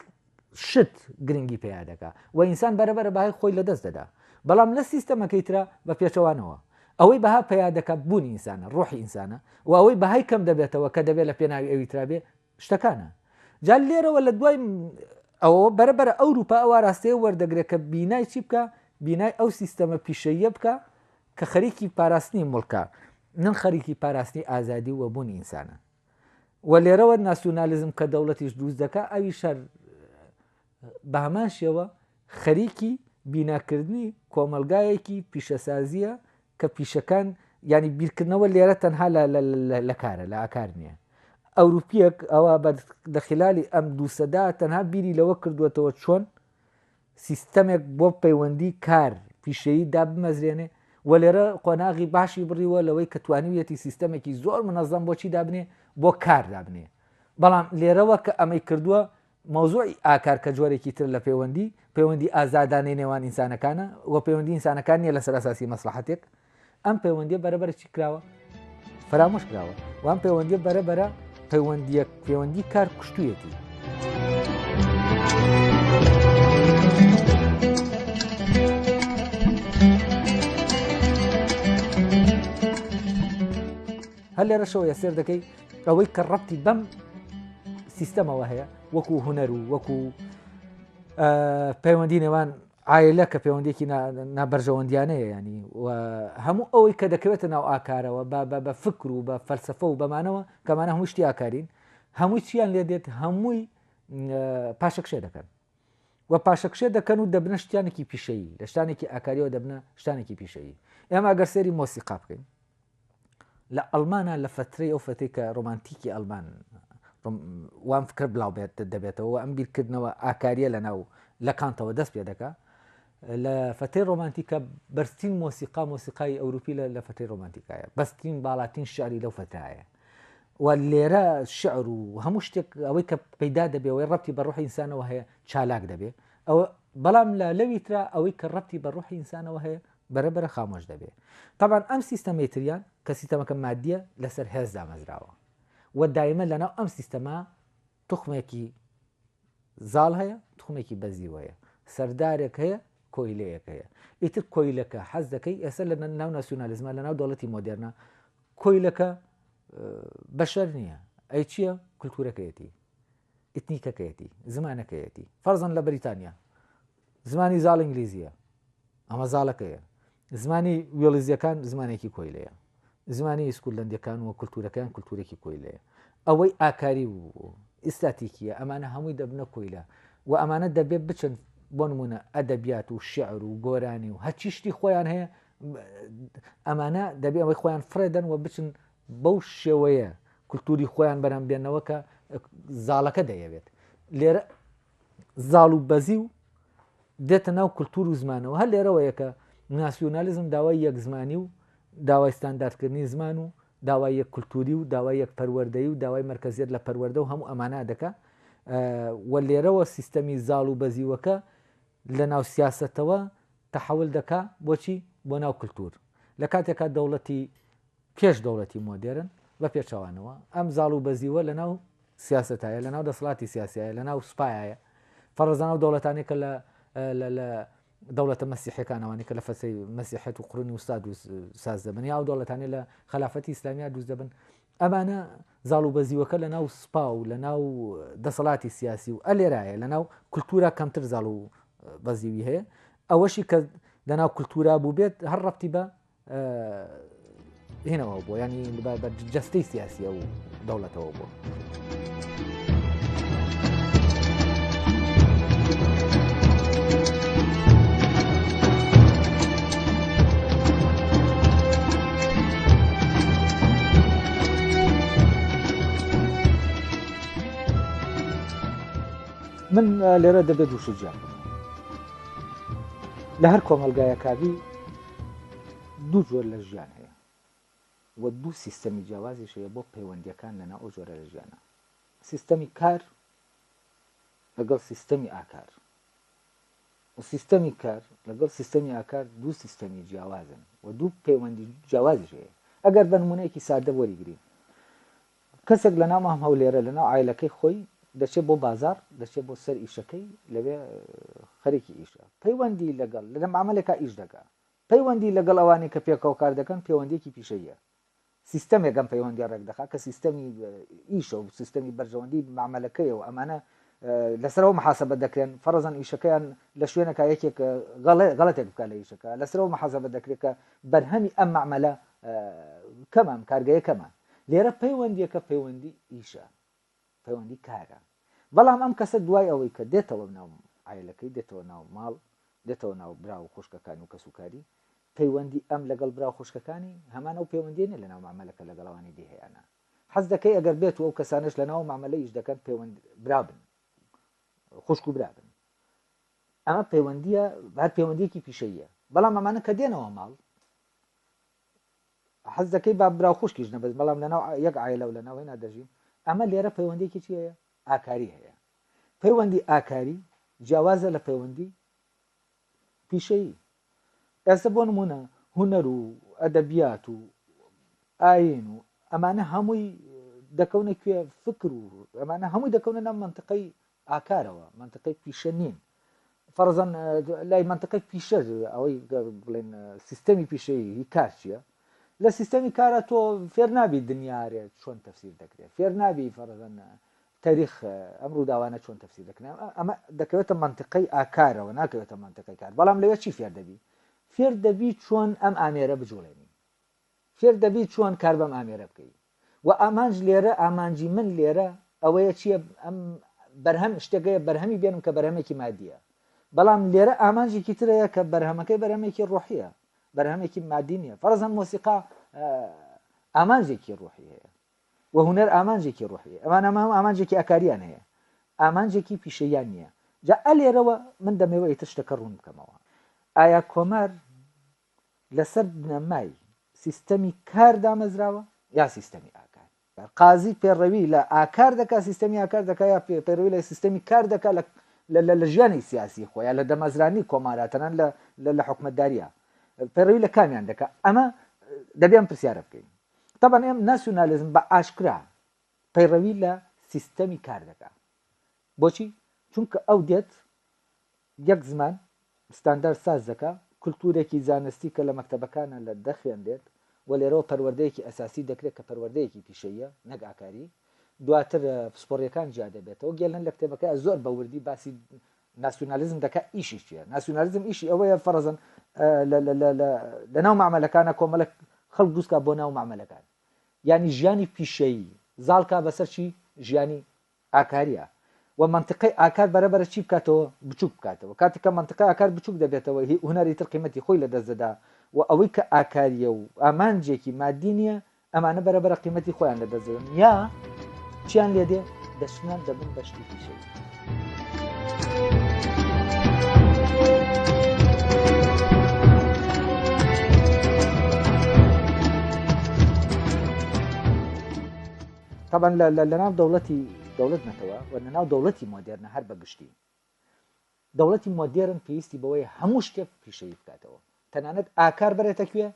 شت، گرنگی پەیا دەکا و ئینسان بەرە بەرە بەهای خۆی لە دەست دەدا. بەڵام لە سیستەمەکەی ترا بە پێچەوانەوە. ئەوەی بەها پەیا دەکا بوونی ئینسانە، ڕوحی ئینسانە و ئەوەی بەهای کەم دەبێتەوە کە دەبێ لە پێناوی ئەوی ترا بێ، شتەکانە. جا لێرەوە لە دوای ئەوەوە بەرە بەرە ئەوروپا ئەو ئاراستەیە وەردەگرێت کە بینای چی بکە؟ بینای ئەو سیستەمە پیشەییە بکە کە خەریکی پاراستنی مڵکە نەن خەریکی پاراستنی ئازادی و وەبوونی ئینسانە. و لێرەوە ناسیونالیزم کە دەوڵەتیش دروست دەکا ئەویش هەر بەهەمان شێوە خەریکی بیناکردنی کۆمەڵگایەکی پیشەسازییە کە پیشەکان ینی بیرکردنەوە لێرە تەنها لە کارە لە ئاکار نییە ئەوروپیەک ئەوە بە لە خلالی ئەم دووسەدا تەنها بیری لەوە کردوێتەوە چۆن سیستەمێک بۆ پەیوەندی کار پیشەیی دا بمەزرێنێ و لێرە قۆناغی باشی بڕیوە لەوەی کە توانیویەتی سیستەمێکی زۆر منەزەم بۆچی دابنێ بۆ کار دابنێ بەڵام لێرەوە کە ئەمەی کردووە مەوزوعی ئاکار کە جۆرێکی تر لە پەیوەندی، پەیوەندی ئازادانەی نێوان ئینسانەکانە و پەیوەندی ئینسانەکان نییە لەسەر ئەساسی مەسڵەحەتێک، ئەم پەیوەندیە بەرە بەرە چی کراوە؟ فەرامۆش کراوە و ئەم پەیوەندیە بەرە بەرە پەیوەندیە پەیوەندی کار کوشتویەتی. هەر لێرەشەوە یە سێر دەکەی ئەوەی کە ڕەتی بەم سیستەمەوە هەیە وەکو هوەر و وەکو پەیوەندی نێوان ئایلە کە پەیوەندێکی نابەرژەوەندیانەیە ینی و هەموو ئەوەی کە دەکەوێتە ناو ئاکارەوە بە فکر و بە فەلسفە و بەمانەوە کەمانە هەمووشتی ئاکارین هەمووی چیان لێ دێت هەمووی پاشەکشێ دەکەن و پاشەکشێ دەکەن و دەبنە شتانێکی پیشەیی لە شتانێکی ئاکاریەوە دەبنە شتانێکی پیشەیی ئێمە گەر سێری مۆسیقا بکەین لە ئەڵمانا لە فترەی ئەو فتەی کە ڕۆمانتیکی ئەلمان وام فکر بلاو بێت دەبێتەوە ئەم بیرکردنەوە ئاکاریە لە ناو لە کانتەوە دەست پێ دەکە لە فتەی ڕۆمانتیکە بەرزترین مۆسیقا مۆسیقای ئەوروپی لە لە فتەی ڕۆمانتیکایە بەسترین باڵاتین شاری لەو فتایە و لێرە شعر و هەموو شتێک ئەوەی کە پەیدا دەبێەوەی ڕەتی بە ڕۆحی ئینسانەوە هەیە چالاک دەبێ ئەوە بەڵام لە لەوی تررا ئەوەی کە ڕەتی بە ڕۆحی ئینسانەوە هەیە بەرە بەرە خامۆش دەبێ تەبان ئەم سیستەمەی تریان کە سیستەمەکە مادیە لەسەر هێز دامەزراوە و دایمە لەناو ئەم سیستەما تخمێکی زاڵ هەیە تخمێکی بەزیوەیە سەردارێک هەیە کۆیلەیەک هەیە ئیتر کۆیلەکە حەز دەکەی ئێستا لە ناو ناسیۆنالیزمە لە ناو دەوڵەتی مۆدررنە کۆیلەکە بەشەر نییە ئەی چییە کللتورەکەیەتی ئیتنیکەکەیەتی زمانەکەیەتی فەرزان لە بریتانیا زمانی زاڵ ئینگلیزییە، ئەمە زاڵەکەیە. زمانی وێڵیزییەکان زمانێکی کۆیلەیە. زمانی ئیسکوللەندییەکان و کولتوورەکەیان کولتوورێکی کۆیلەیە. ئەوەی ئاکاری و ئیستاتیکییە ئەمانە هەمووی دەبنە کۆیلە و ئەمانە دەبێ بچن بۆ نموونە ئەدەبیات و شیعر و گۆرانی و هەرچی شتی خۆیان هەیە ئەمانە دەبێ ئەوەی خۆیان فڕێدەن و بچن بەو شێوەیە کولتووری خۆیان بەرهەم بێنەوە کە زاڵەکە دەیەوێت لێرە زاڵ و بەزی و دێتە ناو کللتور و زمانەوە هەر لێرەوە یەکە ناسیۆنالیزم داوای یەک زمانی و داوای ستانداردکردنی زمان و داوای یەک کللتوری و داوای یەک پەروەردەی و داوای مرکزیت لە پەروەەردە و هەموو ئەمانە دەکە و لێرەوە سیستەمی زاڵ و بەزیوەکە لە ناو سیاستەوە تحول دەکا بۆچی بۆ ناو کللتور لە کاتێکا دەوڵەتی پێش دەوڵەتی مۆدێرن، بە پێچەوانەوە، ئەم زاڵ و بەزیوە لە ناو سیاسەتایە، لە ناو دەسەڵاتی سیاسیایە، لە ناو سوپایایە، فەڕزانە ئەو دەوڵەتانەی کە لە لە لە دەوڵەتە مەسیحەکان ئەوانەی کە لە فەسەی مەسیحەت و قڕنی وستا دروست ساز دەبن یا ئەو دەوڵەتانی لە خلافەتی ئیسلامیا دروست دەبن ئەمانە زاڵ و بەزیوەکە لە ناو سپا و لە ناو دەسەڵاتی سیاسی و ئەلێرایە لە ناو کللتورا کەمتر زاڵ و بەزیوی هەیە ئەوەشی کە لە ناو کللتورا بوو بێت هەر ڕەتی بە هێنەوە بۆ ینی بە جستەی سیاسیە و دەوڵەتەوە بۆ. من لێرە دەبێت دووشجان لە هەر کۆمەلگایە کاوی دوو جۆر لە ژیان هەیە و دوو سیستەمی جیاوازیش هەیە بۆ پەیوەندیەکان لەنا ئەو جۆرە لە ژیانە سیستەمی کار لەگەڵ سیستەمی ئاکار و سیستەمی کار لەگەڵ سیستەمی ئاکار دوو سیستەمی جیاوازن و دوو پەیوەندی جیاوازیش هەیە ئەگەر بە نمونەیەکی سادە وەریگرین کەسێک لە ناو مام هەولێرە لە ناو عایلەکەی خۆی دەچێت بۆ بازاڕ دەچێت بۆ سەر ئیشەکەی لەوێ خەریکی ئیشە پەیوەندی لەگەڵ لە معاملێکا ئیش دەکا پەیوەندی لەگەڵ ئەوانەی کە پێکەوە کار دەکەن پەیوەندیەکی پیشەیە سیستەمێک ئەم پەیوەندی ڕێک دەخا کە سیستەمی ئیشە و سیستەمی بەرژەوەندی معاملەکەیە و ئەمانە لەسەرەوە محاسبە دەکرێن فەرزان ئیشەکەیان لە شوێنەکە یەکێک غەڵەتێک بکە لە ئیشەکە لەسەرەوە محاسبە دەکرێت کە بەرهەمی ئەم معمەلە کەمان کارگەیە کەمان لێرە پەیوەندیەکە پەیوەندی ئیشە پەیوەندی کارە بەڵام ئەم کەسە دوای ئەوەی کە دێتەوە ناو ئایلەکەی دێتەوە ناو ماڵ دێتەوە ناو برا و خوشکەکان و کەس و کاری پەیوەندی ئەم لەگەڵ برا و خوشکەکانی هەمان ئەو پەیوەندیێنە لە ناو مامەلەکە لەگەڵوانی دیهیانە حەز دەکەی ئەگەر بێت و ئەو کەسانش لە ناو مامەلە ئیش دەکەن پەیوەند برابن خوشک و برابن ئەمە پەیوەندیە بار پەیوەندیەکی پیشەیە بەڵام ئەمانە کە دێنەوە ماڵ حەز دەکەی با برا و خوشکیش نەبێت بەڵام لەناو یەک عایلە و لەناو هێنا دەژین ئەمە لێرە پەیوەندیەکی چی هەیە ئاکاری هەیە پەیوەندی ئاکاری جیاوازە لە پەیوەندی پیشەیی ئێستا بۆ نمونە هوەر و ئەدەبیات و ئاین و ئەمانە هەمووی دەکەونە کوێ فکر و ئەمانە هەمووی دەکەونە نام منطقەی ئاکارەوە مەنتقەی پیشە نین فەرزەن لای منطقی پیشە ئەوەی بڵێن سیستەمی پیشەیی کار چییە لە سیستەمی کارە تۆ فێر نابی دنیاارێت چۆن تەفسیر دەکرێت فێر نابی فەرزەن تاریخ ئەم ڕووداوانە چۆن تەفسیر دەکرێن ئەمە دەکەوێتە منطقی ئاکارەوە ناکەوێتە منطقی کار بەڵام لەوێ چی فێر دەبی فێر دەبی چۆن ئەم ئامێرە بجوڵێنی فێر دەبی چۆن کار بەم ئامێرە بکەی وە ئامانج لێرە ئامانجی من لێرە ئەوەیە چیە ئەم بەرهەم شتەکەیە بەرهەمی بێنم کە بەرهەمێکی مادیە بەڵام لێرە ئامانجێکی ترەیە کە بەرهەمەکەی بەرهەمێکی ڕۆحیە بەرهەمێکی مادی نیە فەرزەن مۆسیقا ئامانجێکی ڕۆحی هەیە وە هوەر ئامانجێکی ڕۆحی ئەمان ئەمە هەم ئامانجێکی ئەکاریان هەیە ئامانجێکی پیشەیان نییە جا ئەلێرەوە من دەمەوە ئیتر شتەکە ڕوون بکەمەوە ئایا کۆمار لەسەر بنەمای سیستەمی کار دامەزراوە یا سیستەمی ئاکار قازی پێڕەوی لە ئاکار دەکات سیستەمی ئاکار دەکات یا پێڕەوی لە سیستەمی کار دەکات لە لە ژیانی سیاسی خۆیان لە دەمەزرانی کۆماراتەنان لە لە حکومتداریە پەرەوی لە کامیان دەکە ئەمە دەبێن پرسیارە بکەین طبعا ئێم ناسیونالیزم بە ئاشکرا پەیڕەوی لە سیستەمی کار دەکە بۆچی چونکە ئەو دێت یەک زمان ستاندارد ساز دەکا، کولتوورێکی زانستی کە لە مەکتەبەکانا لە دەخوێنرێت و لێرەوە پەروەردەیەکی ئەساسی دەکرێت کە پەروەردەیەکی پیشەییە نەک ئاکاری، دواتر پسپۆڕییەکان جیا دەبێتەوە، گێلن لە کتێبەکەیا زۆر بە وردی باسی ناسیونالیزم دەکا ئیشی چییە؟ ناسیونالیزم ئیشی ئەوەیە فەرەزەن لە ناو مەعمەلەکانا کۆمەڵێک خەڵک دروست کا بۆ ناو مەعمەلەکان یانی ژیانی پیشەیی زاڵ کا بەسەر چی؟ ژیانی ئاکاریا، و مەنتقەی ئاکار بەرە بەرە چی بکاتەوە؟ بچوک بکاتەوە. کاتێک کە مەنتقەی ئاکار بچوک دەبێتەوە هی هونەری تر قیمەتی خۆی لە دەست دەدا و ئەوەی کە ئاکاریە و ئامانجێکی مادی نیە ئەمانە بەرە بەرە قیمەتی خۆیان لە دەست دەدەن یا چیان لێ دێ دەچنە دەبن بە شتی پیشەیی. تەبەن لە ناو دەوڵەتی دەوڵەت نەتەوە و لە ناو دەوڵەتی مۆدێرنە هەر بە گشتی دەوڵەتی مۆدێرن پێویستی بەوەی هەموو شتێک پیشەوی بکاتەوە تەنانەت ئاکار بەرێتە کوێ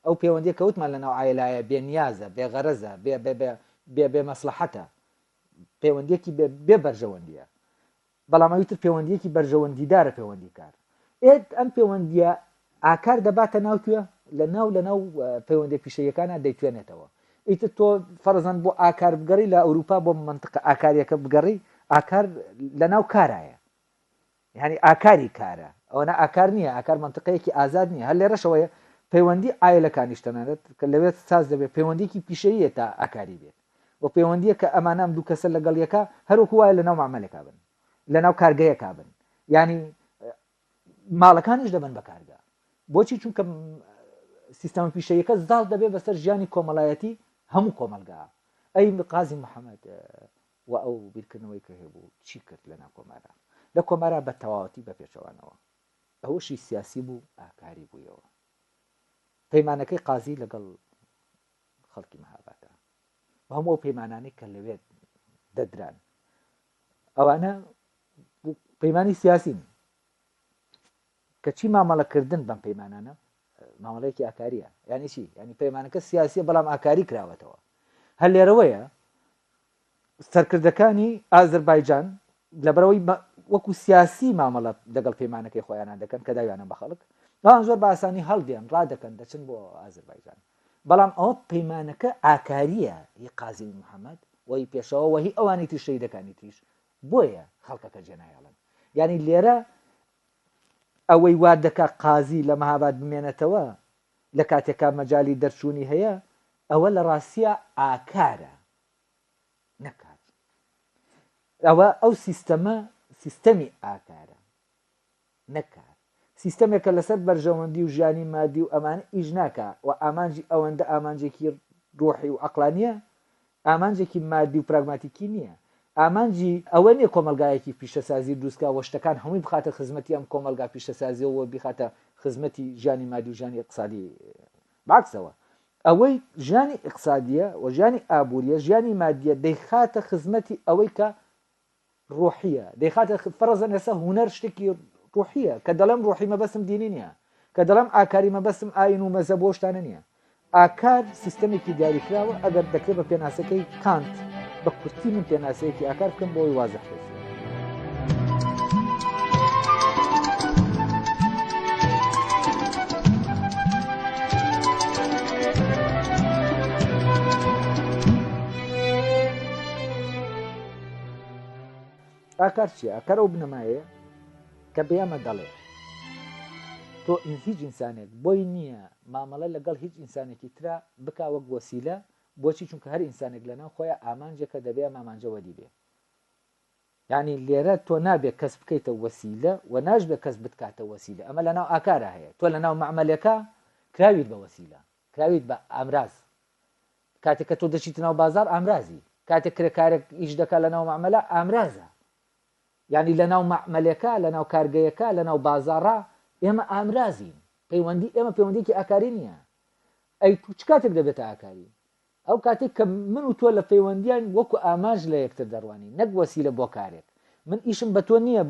ئەو پەیوەندی کەوتمان لە ناو ئایلایە بێنیازە بێغەرەزە بێ بێ بێ بێ مەسلحەتە پەیوەندێکی بێ بەرژەوەندیە بەڵام ئەوی تر پێوەندییەکی بەرژەوەندیدارە پێوەندیکار ئێت ئەم پێوەندییە ئاکار دەباتە ناو کوێ لە ناو لە ناو پەیوەندی پیشەیەکانە دەیتوێنێتەوە ئیتر تۆ فەرزان بۆ ئاکار بگەڕی لە ئەوروپا بۆ منطق ئاکاریەکە بگەڕی ئاکار لە ناو کارایە یعنی ئاکاری کارە ئەوەنە ئاکار نییە ئاکار منطقەیەکی ئازاد نییە هەر لێرەشەوەیە پەیوەندی ئایلەکانیش تەنانەت کە لەوێت ساز دەبێت پەیوەندیکی پیشەیە تا ئاکاری بێت و پێوەندییەک کە ئەمانە ئەم دوو کەسە لەگەڵ یەکا هەر وەکوو وایە لەناو مەعمەلێکا بن، لەناو کارگەیەکا بن، یانی ماڵەکانیش دەبن بە کارگە، بۆچی چونکە سیستەمە پیشەیەکە زاڵ دەبێت بەسەر ژیانی کۆمەڵایەتی هەموو کۆمەلگا ئەی قازی محەممەد و ئەو بیرکردنەوەی کە هەبوو چی کرد لە ناکۆمارە لە کۆمارا بە تەواوەتی بە پێچەوانەوە ئەوەشی سیاسی بوو ئاکاری بوویەوە پەیمانەکەی قازی لەگەڵ خەڵکی مەهابادە بە هەموو ئەو پەیمانانەی کە لەوێ دەدران ئەوانە پەیمانی سیاسین کەچی مامەڵەکردن بەم پەیمانانە مامەڵەیەکی ئاکاریە یانی چی ینی پەیمانەکە سیاسیە بەڵام ئاکاری کراوەتەوە هەر لێرەوەیە سەرکردەکانی ئازەربایجان لەبەرەوەی وەکو سیاسی مامەڵە لەگەڵ پەیمانەکەی خۆیانان دەکەن کە داویانە بە خەڵک بەڵام زۆر باسانی هەڵدێن ڕادەکەن دەچن بۆ ئازربایجان بەڵام ئەوە پەیمانەکە ئاکاریە هی قازمی محەممەد وەی پێشەوە وەهی ئەوانی تری شەیدەکانی تریش بۆیە خەڵکەکە جێنایڵن یعنی لێرە ئەوەی وا دەکا قازی لە مەهاباد بمێنێتەوە لە کاتێکا مەجای دەرچوونی هەیە ئەوە لە ڕاستە ئاکارە نەکات ئەوە ئەو سیستەمە سیستەمی ئاکارە نەکات سیستەمێکە لەسەر بەرژەوەندی و ژیانی مادی و ئەمان ئیش ناکە و ئامانجی ئەوەندە ئامانجێکی ڕۆحی و ئەقلانیە ئامانجێکی مادی و پراگماتیکی نییە ئامانجی ئەوە نیە کۆمەلگایەکی پیشەسازی دروستکە وە شتەکان هەمووی بخاتە خزمەتی ئەم کۆمەلگا پیشەسازیەوە بیخاتە خزمەتی ژانی مادی و ژانی اقتصادی بەعکسەوە، ئەوەی ژیانی ئیقتسادییە و ژیانی ئابوورییە، ژیانی مادییە، دەیخاتە خزمەتی ئەوەی کە ڕوحییە، دەیخاتە خ، فەرەزەن ئێستا هونەر شتێکی ڕوحییە، کە دەڵێم ڕوحی مەبەستم دینی نییە، کە دەڵێم ئاکاری مەبەستم ئایین و مەزەب و ئەو شتانە نییە. ئاکار سیستەمێکی دیاریکراوە، ئەگەر دەکرێت بە پێناسەکەی. کانت، بە کورتی من پێناسەیەکی ئاکار بکەم بۆ ئەوی وازە خێزی ئاکار چیە ئەکەر ئەو بنەمایە کە بێمە دەڵێ تۆ هیچ ئینسانێک بۆی نییە مامەڵە لەگەڵ هیچ ئینسانێکی ترا بکوەک وەسیلە بۆچی چونکە هەر ئینسانێک لەناو خۆیا ئامانجێکە دەبێ ئەم ئامانجە وەدی بێ یعنی لێرە تۆ نابێ کەس بکەیتە وەسیلە و ناشبێ کەس بتکاتە وەسیلە ئەمە لەناو ئاکارا هەیە تۆ لەناو مەعمەلەکە کراویت بە وەسیلە کراویت بە ئامراز کاتێک کە تۆ دەچیت ناو بازار ئامرازی کاتێک کرێکارێک ئیش دەکات لە ناو مەعمەلە ئامرازە یعنی لە ناو مەعمەلەکە لە ناو کارگەیەکە لە ناو بازارڕا ئێمە ئامرازین پەیوەندی ئێمە پەیوەندیکی ئاکاری نییە ئەی تو چ کاتێک دەبێتە ئاکاری؟ ئەو کاتەی کە من و تۆ لە پەیوەندیاین وەکو ئامانج لە یەکتر دەڕوانین نەک وەسیلە بۆ کارێک من ئیشم بە تۆ نییە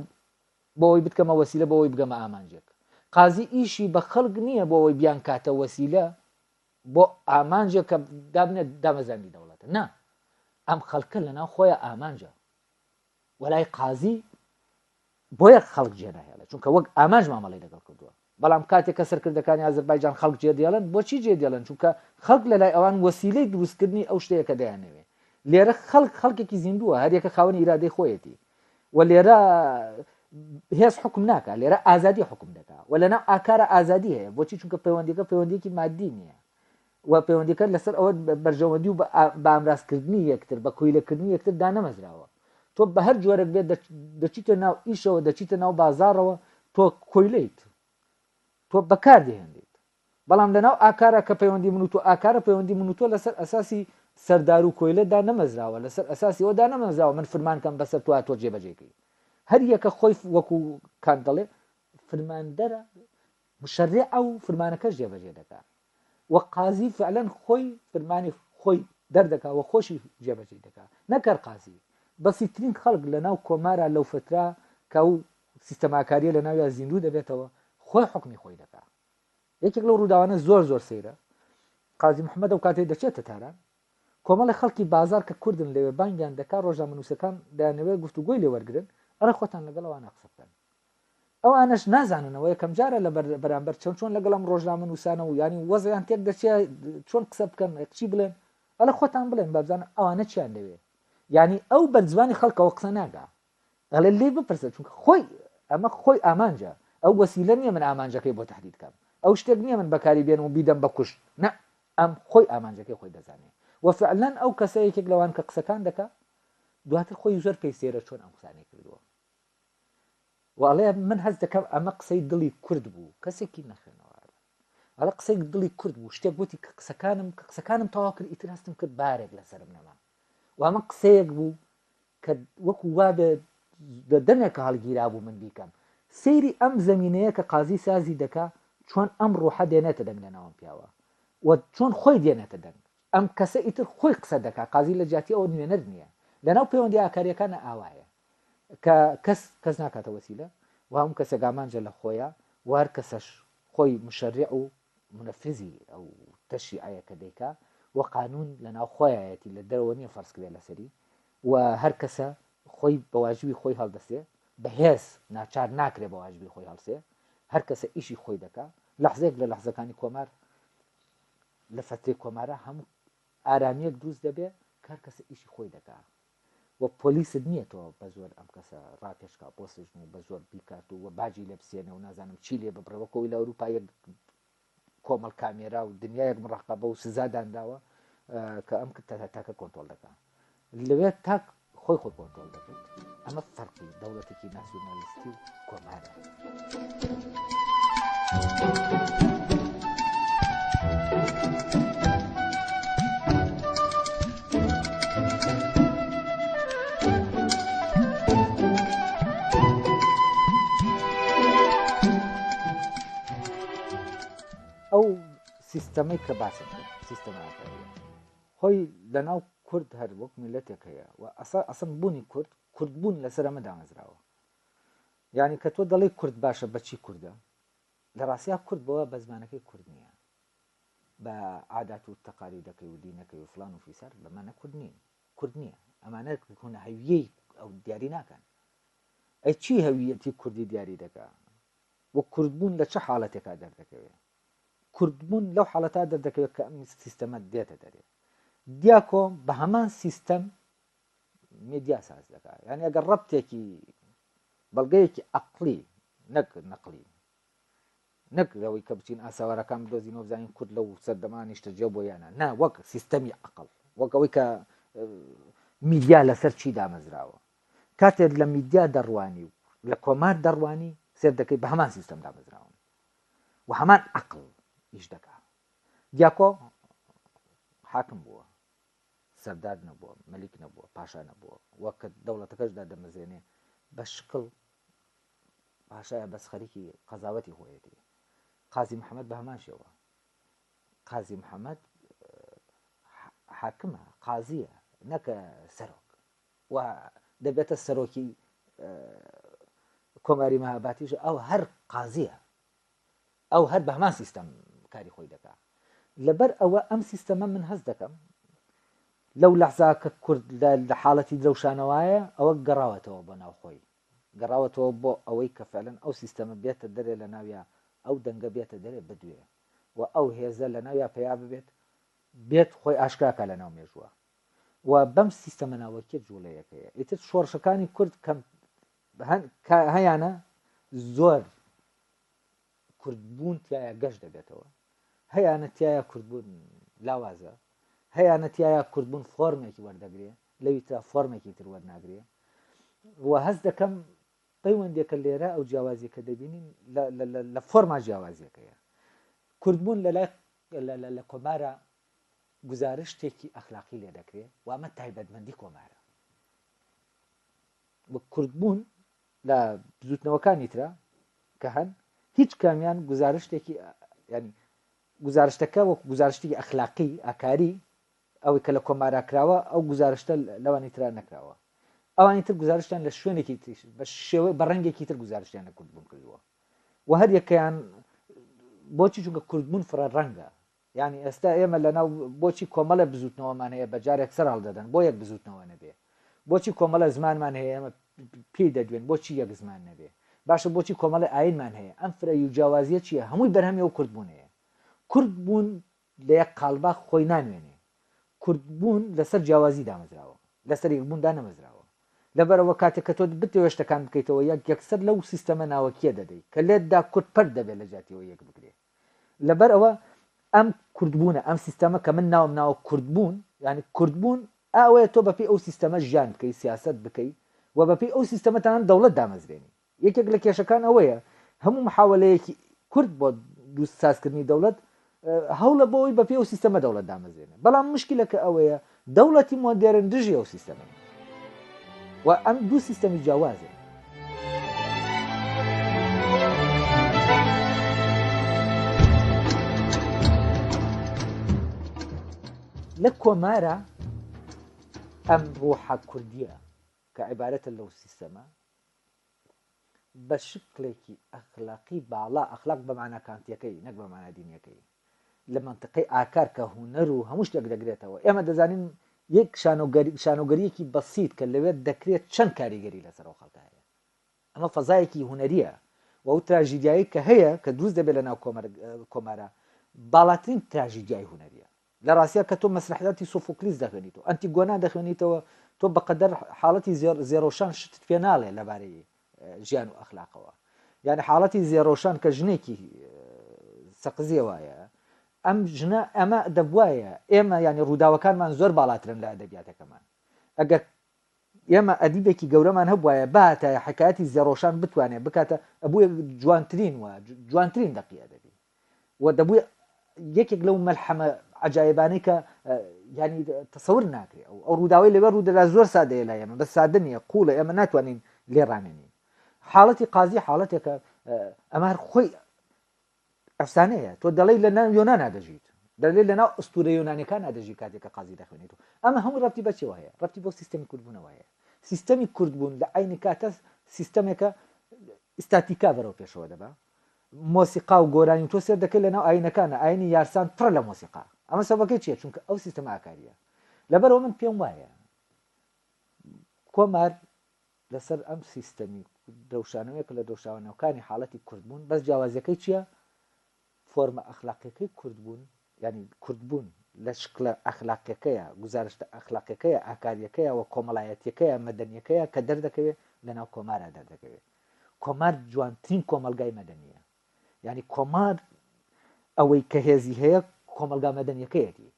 بۆ ئەوەی بتکەمە وەسیلە بۆ ئەوەی بگەمە ئامانجێک قازی ئیشی بە خەڵک نییە بۆ ئەوەی بیانکاتە وەسیلە بۆ ئامانجێک کە دابنێت دامەزراندی دەوڵەتە نا ئەم خەڵکە لەناو خۆیان ئامانجە وەلای قازی بۆیە خەڵک جێ ناهێڵێت چونکە وەک ئامانج مامەڵی لەگەڵ کردووە بەڵام کاتێک کە سەرکردەکانی ئازربایجان خەڵک جێ دێڵن بۆچی جێ دێڵن چونکە خەڵک لە لای ئەوان وەسیلەی دروستکردنی ئەو شتەیەکە دەیانەوێ لێرە خەڵک خەڵکێکی زیندووە هەریەکە خاوەنی ئیرادەی خۆیەتی و لێرە هێز حکم ناکە لێرە ئازادی حکم دەکا و لەنا ئاکارە ئازادی هەیە بۆچی چونکە پەیوەندەکە پەیوەندێکی مادی نییە و پەیوەندیەکە لەسەر ئەوە بەرژەوەندی و بامرازکردنی یەکتر بە کویلەکردنی یەکتر دانەمەزراوە تۆ بە هەر جۆرەك بێت دەچیتە ناو ئیشەوە دەچیتە ناو بازارەوە تۆ کۆیلیت تۆ بەکار دێنیت بەڵام لەناو ئاکارە کە پەیوەندی من و تۆ ئاکارە پەیوەندی من و تۆ لەسەر ئەساسی سەردار و کۆیلەدا نەمەزراوە لەسەر ئەساسی ئەودا نەمەزراوە من فرمانکەم بەسەر تۆ تۆ جێبەجێکی هەر یەکە خۆی وەکو کات دەڵێ فرماندەرە مشەرێ ئەو فرمانەکەش جێبەجێ دەکات و قازی فعلەن خۆی فرمانی خۆی دەردەکا و خۆشی جێبەجێی دەکا نەک هەر قازی بەسیترین خەڵک لەناو کۆمارا لەو فترە کە ئەو سیستەماکاریە لە ناویا زیندوو دەبێتەوە خۆی حکمی خۆی دەکا یەکێک لەو ڕووداوانە زۆر زۆر سەیرە قازی محمد ئەو کاتێ دەچێتە تاران کۆمەڵێ خەڵکی بازاڕ کە کوردن لەوێ بانگیان دەکا ڕۆژنامەنووسەکان دەیانەوێ گفتوگۆی لێ وەرگرن ئەرێ خۆتان لەگەڵ ئەوانە قسە بکەن ئەوانەش نازاننەوە یەکەمجارە لە بەرامبەر چۆن چۆن لەگەڵم ڕۆژنامەنووسانە و ینی وەزیان تێک دەچێ چۆن قسە بکەن قچی بڵێن ئەلە خۆتان بڵێن بابزان ئەوانە چیان لەوێ ینی ئەو بەرزبانی خەڵکەوە قسە ناگا ئەڵێ لێی بپرسە چونکە خۆی ئەمە خۆی ئامانجە ئەو وەسیلە نییە من ئامانجەکەی بۆ تهدید کەم ئەو شتێک نییە من بەکاری بێن و بیدەم بە کوشت نە ئەم خۆی ئامانجەکەی خۆی دەزانێ و فعلەن ئەو کەسە یەکێک لەوان کە قسەکان دەکا دواتر خۆی زۆر پێی سێرە چۆن ئەم قسانەی کردووە وڵێ من هەز دەکەم ئەمە قسەی دڵی کورد بوو کەسێکی نەخێنەوار ئەڵە قسەی دڵی کورد بوو شتێک گوتی کە قسەکانم کە قسەکانم تەواو کرد ئیتر هەستم کرد بارێک لەسرم نەما و ئەمە قسەیەک بوو کە وەکو وا دە دەمێکە هەڵگیرا بوو من بیکەم سەیری ئەم زمینەیە کە قازی سازی دەکا چۆن ئەم ڕۆحە دێنێتە دەنگ لە ناوم پیاوە و چۆن خۆی دێنێتە دەنگ ئەم کەسە ئیتر خۆی قسە دەکا قازی لە جیاتی ئەوە نوێنەر نییە لەناو پەیوەندی ئاکاریەکانە ئاوایە کە کەس کەس ناکاتە وەسیلە و هەموو کەسێک ئامانجە لە خۆیە وار کەسەش خۆی مشەرع و منفذی ئەو تەشریعەیە کە دەیکا و قانون لە ناو خۆیایەتی لە دەرەوە نییە فەرز کرێ لەسەری و هەر کەسە خۆی بە واجبی خۆی هەڵدەسێ بەهێز ناچار ناکرێ بە واجبی خۆی هەڵسێ هەر کەسە ئیشی خۆی دەکا لەحزێک لە لەحزەکانی کۆمار لە فەتری کۆمارە هەموو ئارامیەک دروست دەبێ کار کەسە ئیشی خۆی دەکا و پۆلیست نیە تۆ بە زۆر ئەم کەسە ڕاکێش کا بۆ سجن و بە زۆر بیکات و وە باجی لێ بسێنە و نازانم چی لێ ببڕێ وە کۆی لە ئەوروپا یەک کۆمەڵ کامێرا و دنیایەک مڕقەبە و سزا دانراوە کە ئەم تاکە کۆنتۆل دەکەن لەوێ تاک خۆی خۆی کۆنتۆل دەکرد ئەمە فەرقی دەوڵەتێکی ناسیۆنالیستی و کۆمارە سیستەمەی کە باسم سیستەمەکە خۆی لە ناو کورد هەر وەک میلەتێک هەیە و ئەسا ئەسم بوونی کورد کوردبوون لەسەر ئەمە دامەزراوە یانی کە تۆ دەڵێی کورد باشە بە چی کوردە؟ لە ڕاستیا کورد بەوە بە زمانەکەی کورد نییە. بە عادات و تەقالیدەکەی و دینەکەی و فلان و فیسار بەمانە کورد نین. کورد نییە. ئەمانە بکۆنە هەویەی ئەو دیاری ناکەن. ئەی چی هەویەتی کوردی دیاری دەکا؟ و کوردبوون لە چه حاڵەتێکا دەردەکەوێ؟ کوردبوون لەو حاڵەتا دەردەکەوێت کە ئەم سیستەمە دێتە دەرێ. دیاکۆ بە هەمان سیستەم میدیا ساز دەکات یعنی ئەگەر ڕەبتێکی بەڵگەیەکی ئەقلی نەک نەقلی نەک لەوەی کە بچین ئاساوارەکان بدۆزین وبزانین کورد لەو سەردەمان نیشتەجێ بۆ یانە نا وەک سیستەمی ئەقل وەک ئەوەی کە میدیا لەسەر چی دامەزراوە کاتێک لە میدیا دەڕوانی و لە کۆمار دەڕوانی سێر دەکەی بە هەمان سیستەم دامەزراون و هەمان ئەقل ئیش دەکات دیاکۆ حاکم بووە سەردار نەبووە، مەلیک نەبووە، پاشا نەبووە و کە دەوڵەتەکەش دادەمەزێنێ بە شکڵ پاشایە بەس خەریکی قەزاوەتی خۆیەتی. قازی محەممەد بە هەمان شێوە. قازی محەممەد حاکمە قازیە نەکە سەرۆک و دەبێتە سەرۆکی کۆماری مەهاباتیش ئەو هەر قازیە ئەو هەر بە هەمان سیستەم کاری خۆی دەکا لەبەر ئەوە ئەم سیستەمە من هەست دەکەم لەو لەحزا کە کورد لە حاڵەتی درەوشانەوەیە ئەوە گەڕاوەتەوە بۆ ناوخۆی گەڕاوەتەوە بۆ ئەوەی کە فعلەن ئەو سیستەمە بێتە دەرێ لە ناویا ئەو دەنگە بێتە دەرێ بدوێ و ئەو هێزە لە ناویا پیا ببێت بێت خۆی ئاشکراکە لە ناو مێژووە و بەم سیستەمە ناوەکیە جوڵەیەکەیە ئیتر شۆڕشەکانی کورد کەم هەیانە زۆر کوردبوون تایە گەشت دەبێتەوە هەیانە تایە کوردبوون لاوازە هەیانە تایە کوردبوون فۆرمێکی وەردەگرێ لەوی تا فۆرمێکی تر وەرناگرێ و هەست دەکەم پەیوەندێکە لێرە ئەو جیاوازی کە دەبینین لە فۆرما جیاوازیەکەیە کوردبوون لە لای لە کۆمارە گزارشتێکی ئەخلاقی لێ دەکرێت وامە تایبەتمەندی کۆمارە وەک کوردبوون لە بزوتنەوەکانی ترا کە هەن هیچ کامیان گزارشتێکی ینی گزارشتەکە وەک گزارشتی ئەخلاقی ئاکاری ئەوەی کە لە کۆمارا کراوە ئەو گزارشتە لەوانی تررا نەکراوە ئەوانی تر گزارشتیان لە شوێنێکی تریش بە شێوە بە ڕەنگێکی تر گزارشتیان لە کوردبوون کردووە و هەر یەکەیان بۆچی چونکە کوردبوون فرە ڕەنگە یانی ئێستا ئێمە لەناو بۆچی کۆمەڵێ بزوتنەوەمان هەیە بەجارێک سەر هەڵدەدەن بۆ یەک بزوتنەوە نەبێ بۆچی کۆمەڵە زمانمان هەیە ئێمە پێی دەدوێن بۆچی یەک زمان نەبێ باشە بۆچی کۆمەڵی ئاینمان هەیە ئەم فرە و جیاوازیە چیە هەمووی بەرهەمی و کوردبوونەیە کورد بوون لە یەک قالبا خۆی نانوێنێ کورد بوون لەسەر جیاوازی دامەزراوە لەسەر یەکبووندا نەمەزراوە لەبەرەوە کاتێک کە تۆ بتەوێ شتەکان بکەیتەوە یەک یەکسەر لەو سیستەمە ناوەکیە دەدەی کە لێتدا کورد پەر دەبێت لە جاتیەوە یەک بگرێت لەبەر ئەوە ئەم کوردبوونە ئەم سیستەمە کە من ناوم ناوە کوردبوون یعنی کوردبوون ئەوەیە تۆ بەپی ئەو سیستەمە ژیان بکەی سیاست بکەی و بەپی ئەو سیستەمەتان دەوڵەت دامەزرێنی یەکێک لە کێشەکان ئەوەیە هەموو محاولەیەکی کورد بۆ دووست سازکردنی دەوڵەت هەوڵە بۆی بەپی ئەو سیستەمە دەوڵەت دامەزرێنێ بەڵام مشکلەکە ئەوەیە دەوڵەتی مۆدێرن دژی ئەو سیستەمەی و ئەم دوو سیستەمی جیاوازن لە کۆمارە ئەم ڕۆحە کوردیە کە عیبارەتە لەو سیستەمە بە شکڵێکی ئەخلاقی باڵا، ئەخلاق بە مانا کانتییەکەی نەک بە مانا دینییەکەی، لە مەنتیقی ئاکار کە هونەر و هەموو شتێک دەگرێتەوە، ئێمە دەزانین یەک شانۆگەرییەکی بەسیت کە لەوێ دەکرێت چەند کاریگەری لەسەر ئەو خەڵکە هەیە. ئەمە فەزایەکی هونەرییە و ئەو تراژیدیایەی کە هەیە کە دروست دەبێت لەناو کۆمارە باڵاترین تراژیدیای هونەرییە. لە ڕاستیا کە تۆ مەسرەحیاتی سۆفۆکلیس دەخوێنیتەوە، ئەنتیگۆنا دەخوێنیتەوە، تۆ بە قەدەر حاڵەتی زێڕ، زێڕۆشان شتت پێ ناڵێ لە بارەی ژیان و ئەخلاقەوە. یانی حاڵەتی زێڕۆشان کە ژنێکی سەقزیە وایە، ئەم ژنە ئەمە دەبوایە ئێمە یانی ڕووداوەکانمان زۆر باڵاترن لە ئەدەبیاتەکەمان. ئەگەر ئێمە ئەدیبێکی گەورەمان هەبوایە بهاتایە حکایەتی زێڕۆشان بتوانێ بکاتە ئەبووە جوانترین و جوانترین دەقی ئەدەبی و دەبووی یەکێک لەو مەلحەمە عجاایبانەی کە ینی تەسەور ناکرێ ئەو ئەو ڕووداوی لەوێ ڕوودەدا زۆر سادەیە لای ئێمە بە سادە نیە قوڵە ئێمە ناتوانین لێ ڕامێنین حاڵەتی قازی حاڵەتێکە ئەمار خۆی ئەفسانەیە تۆ دەڵێی لە ناو یۆنانا دەژیت دەلێ لە ناو ئەستورە یۆنانەکان ئادەژی کاتێک کە قازی دەخوێنێت و ئەمە هەموو ڕەتی بەچەوە هەیە ڕەتی بۆ سیستەمی کوردبوونەوە هەیە سیستەمی کوردبوون لە عینی کاتە سیستەمێکە ئستاتیکا بەرەو پێشەوە دەبە مۆسیقا و گۆرانی تۆ سێر دەکەی لەناو ئاینەکانە ئاینی یارسان پڕ لە مۆسیقا ئەمە سەبەکەی چیە چونکە ئەو سیستەم ئاکاریە لەبەرەوە من پێم وایە کۆمار لەسەر ئەم سیستەمی درەوشانەوەیە کە لە درەوشاوە ناوکانی حاڵەتی کوردبوون بەس جیاوازیەکەی چیە فۆرمە ئەخلاقیەکەی کوردبوون یعنی کوردبوون لە شکلە ئەخلاقیەکەیە گوزارشتە ئەخلاقیەکەیە ئاکاریەکەیە و کۆمەڵایەتیەکەیە مەدەنیەکەیە کە دەردەکەوێ لەناو کۆمارا دەردەکەوێ کۆمار جوانترین کۆمەڵگای مەدەنیە یعنی کۆمار ئەوەی کە هێزی هەیە کۆمەڵگا مەدەنیەکەیەتی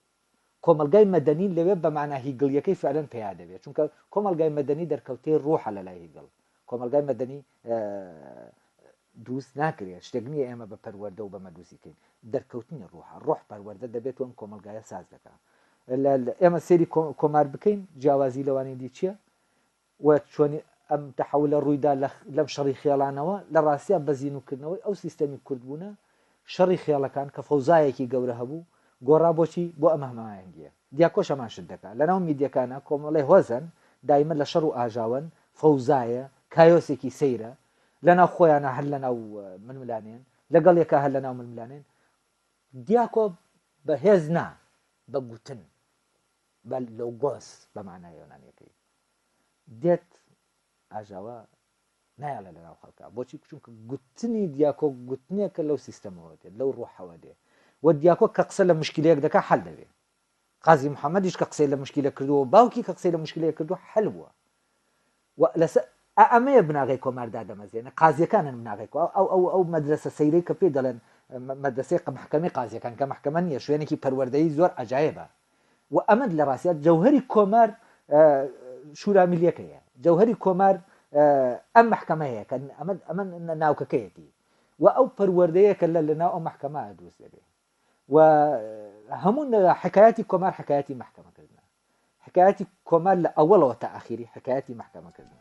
کۆمەڵگای مەدەنی لەوێ بە مانا هیگڵییەکەی فعلەن پێیا دەبێت، چونکە کۆمەڵگای مەدەنی دەرکەوتەی ڕوحە لەلای هیگڵ. کۆمەڵگای مەدەنی دروست ناکرێت، شتێک نییە ئێمە بە پەروەردە و بەمە دروستی بکەین، دەرکەوتنی ڕوحە، ڕوح پەروەردە دەبێت و ئەم کۆمەڵگایە ساز دەکات. ئێمە سەیری کۆمار بکەین، جیاوازی لەوانی دی چییە؟ و چۆنی ئەم تەحەولە ڕوویدا لە لەم شەڕی خێڵانەوە، لە ڕاستیا بە زینووکردنەوەی ئەو سیستەمی کوردبوونە، شەڕی خێڵەکان کە فەوزایەکی گەورە هەبوو، گۆڕا بۆ چی؟ بۆ ئەم هەماهەنگییە. دیاکۆش هەمان شت دەکا. لەناو میدیەکانا کۆمەڵێ هۆزەن، دایمە لە شەڕ و ئاژاوەن، فەوزایە، کایۆسێکی سەیرە، لەناو خۆیانا هەر لەناو ململانێن، لەگەڵ یەکا هەر لەناو ململانێن. دیاکۆ بە هێز نا، بە گوتن، بە لۆگۆس بە مانای یۆنانییەکەی. دێت ئاژاوە نایڵێ لە ناو خەڵکە بۆچی چونکە گوتنی دیاکۆ گوتنێکە لەو سیستەمەوە دێت لەو ڕۆحەوە دێ و دیاکۆ کە قسە لە مشکلەیەک دەکە حل دەبێ قازی محەممەدیش کە قسەی لە مشکلە کردووە باوکی کە قسەی لە مشکلەیە کردو حل بووە لەسەر ئەمەیە بناغی کۆماردا دەمەزێنە قازیەکانن بناغێک ئەو ئەو ئەو مەدرسە سەیرەی کە پێ دەڵێن مەدرسەی قە محکەمی قازیەکان کە محکەمە نیە شوێنێکی پەروەردەی زۆر عجاایە بە وە ئەمەد لە ڕاستیا جەوهەری کۆمار شورا ملیەکەیە جەوهەری کۆمار ئەم محکەمەیە کە ئەمە ئەمە ناوکەکەیەتی و ئەو پەروەردەیە کە لە لەناو ئەو محکەمە دروست دەبێ و هەموو حکایەتی کۆمار حکایەتی محکەمەکردە حکایەتی کۆمار لە ئەوەڵەوە تا ئاخیری حکایەتی محکەمەکردن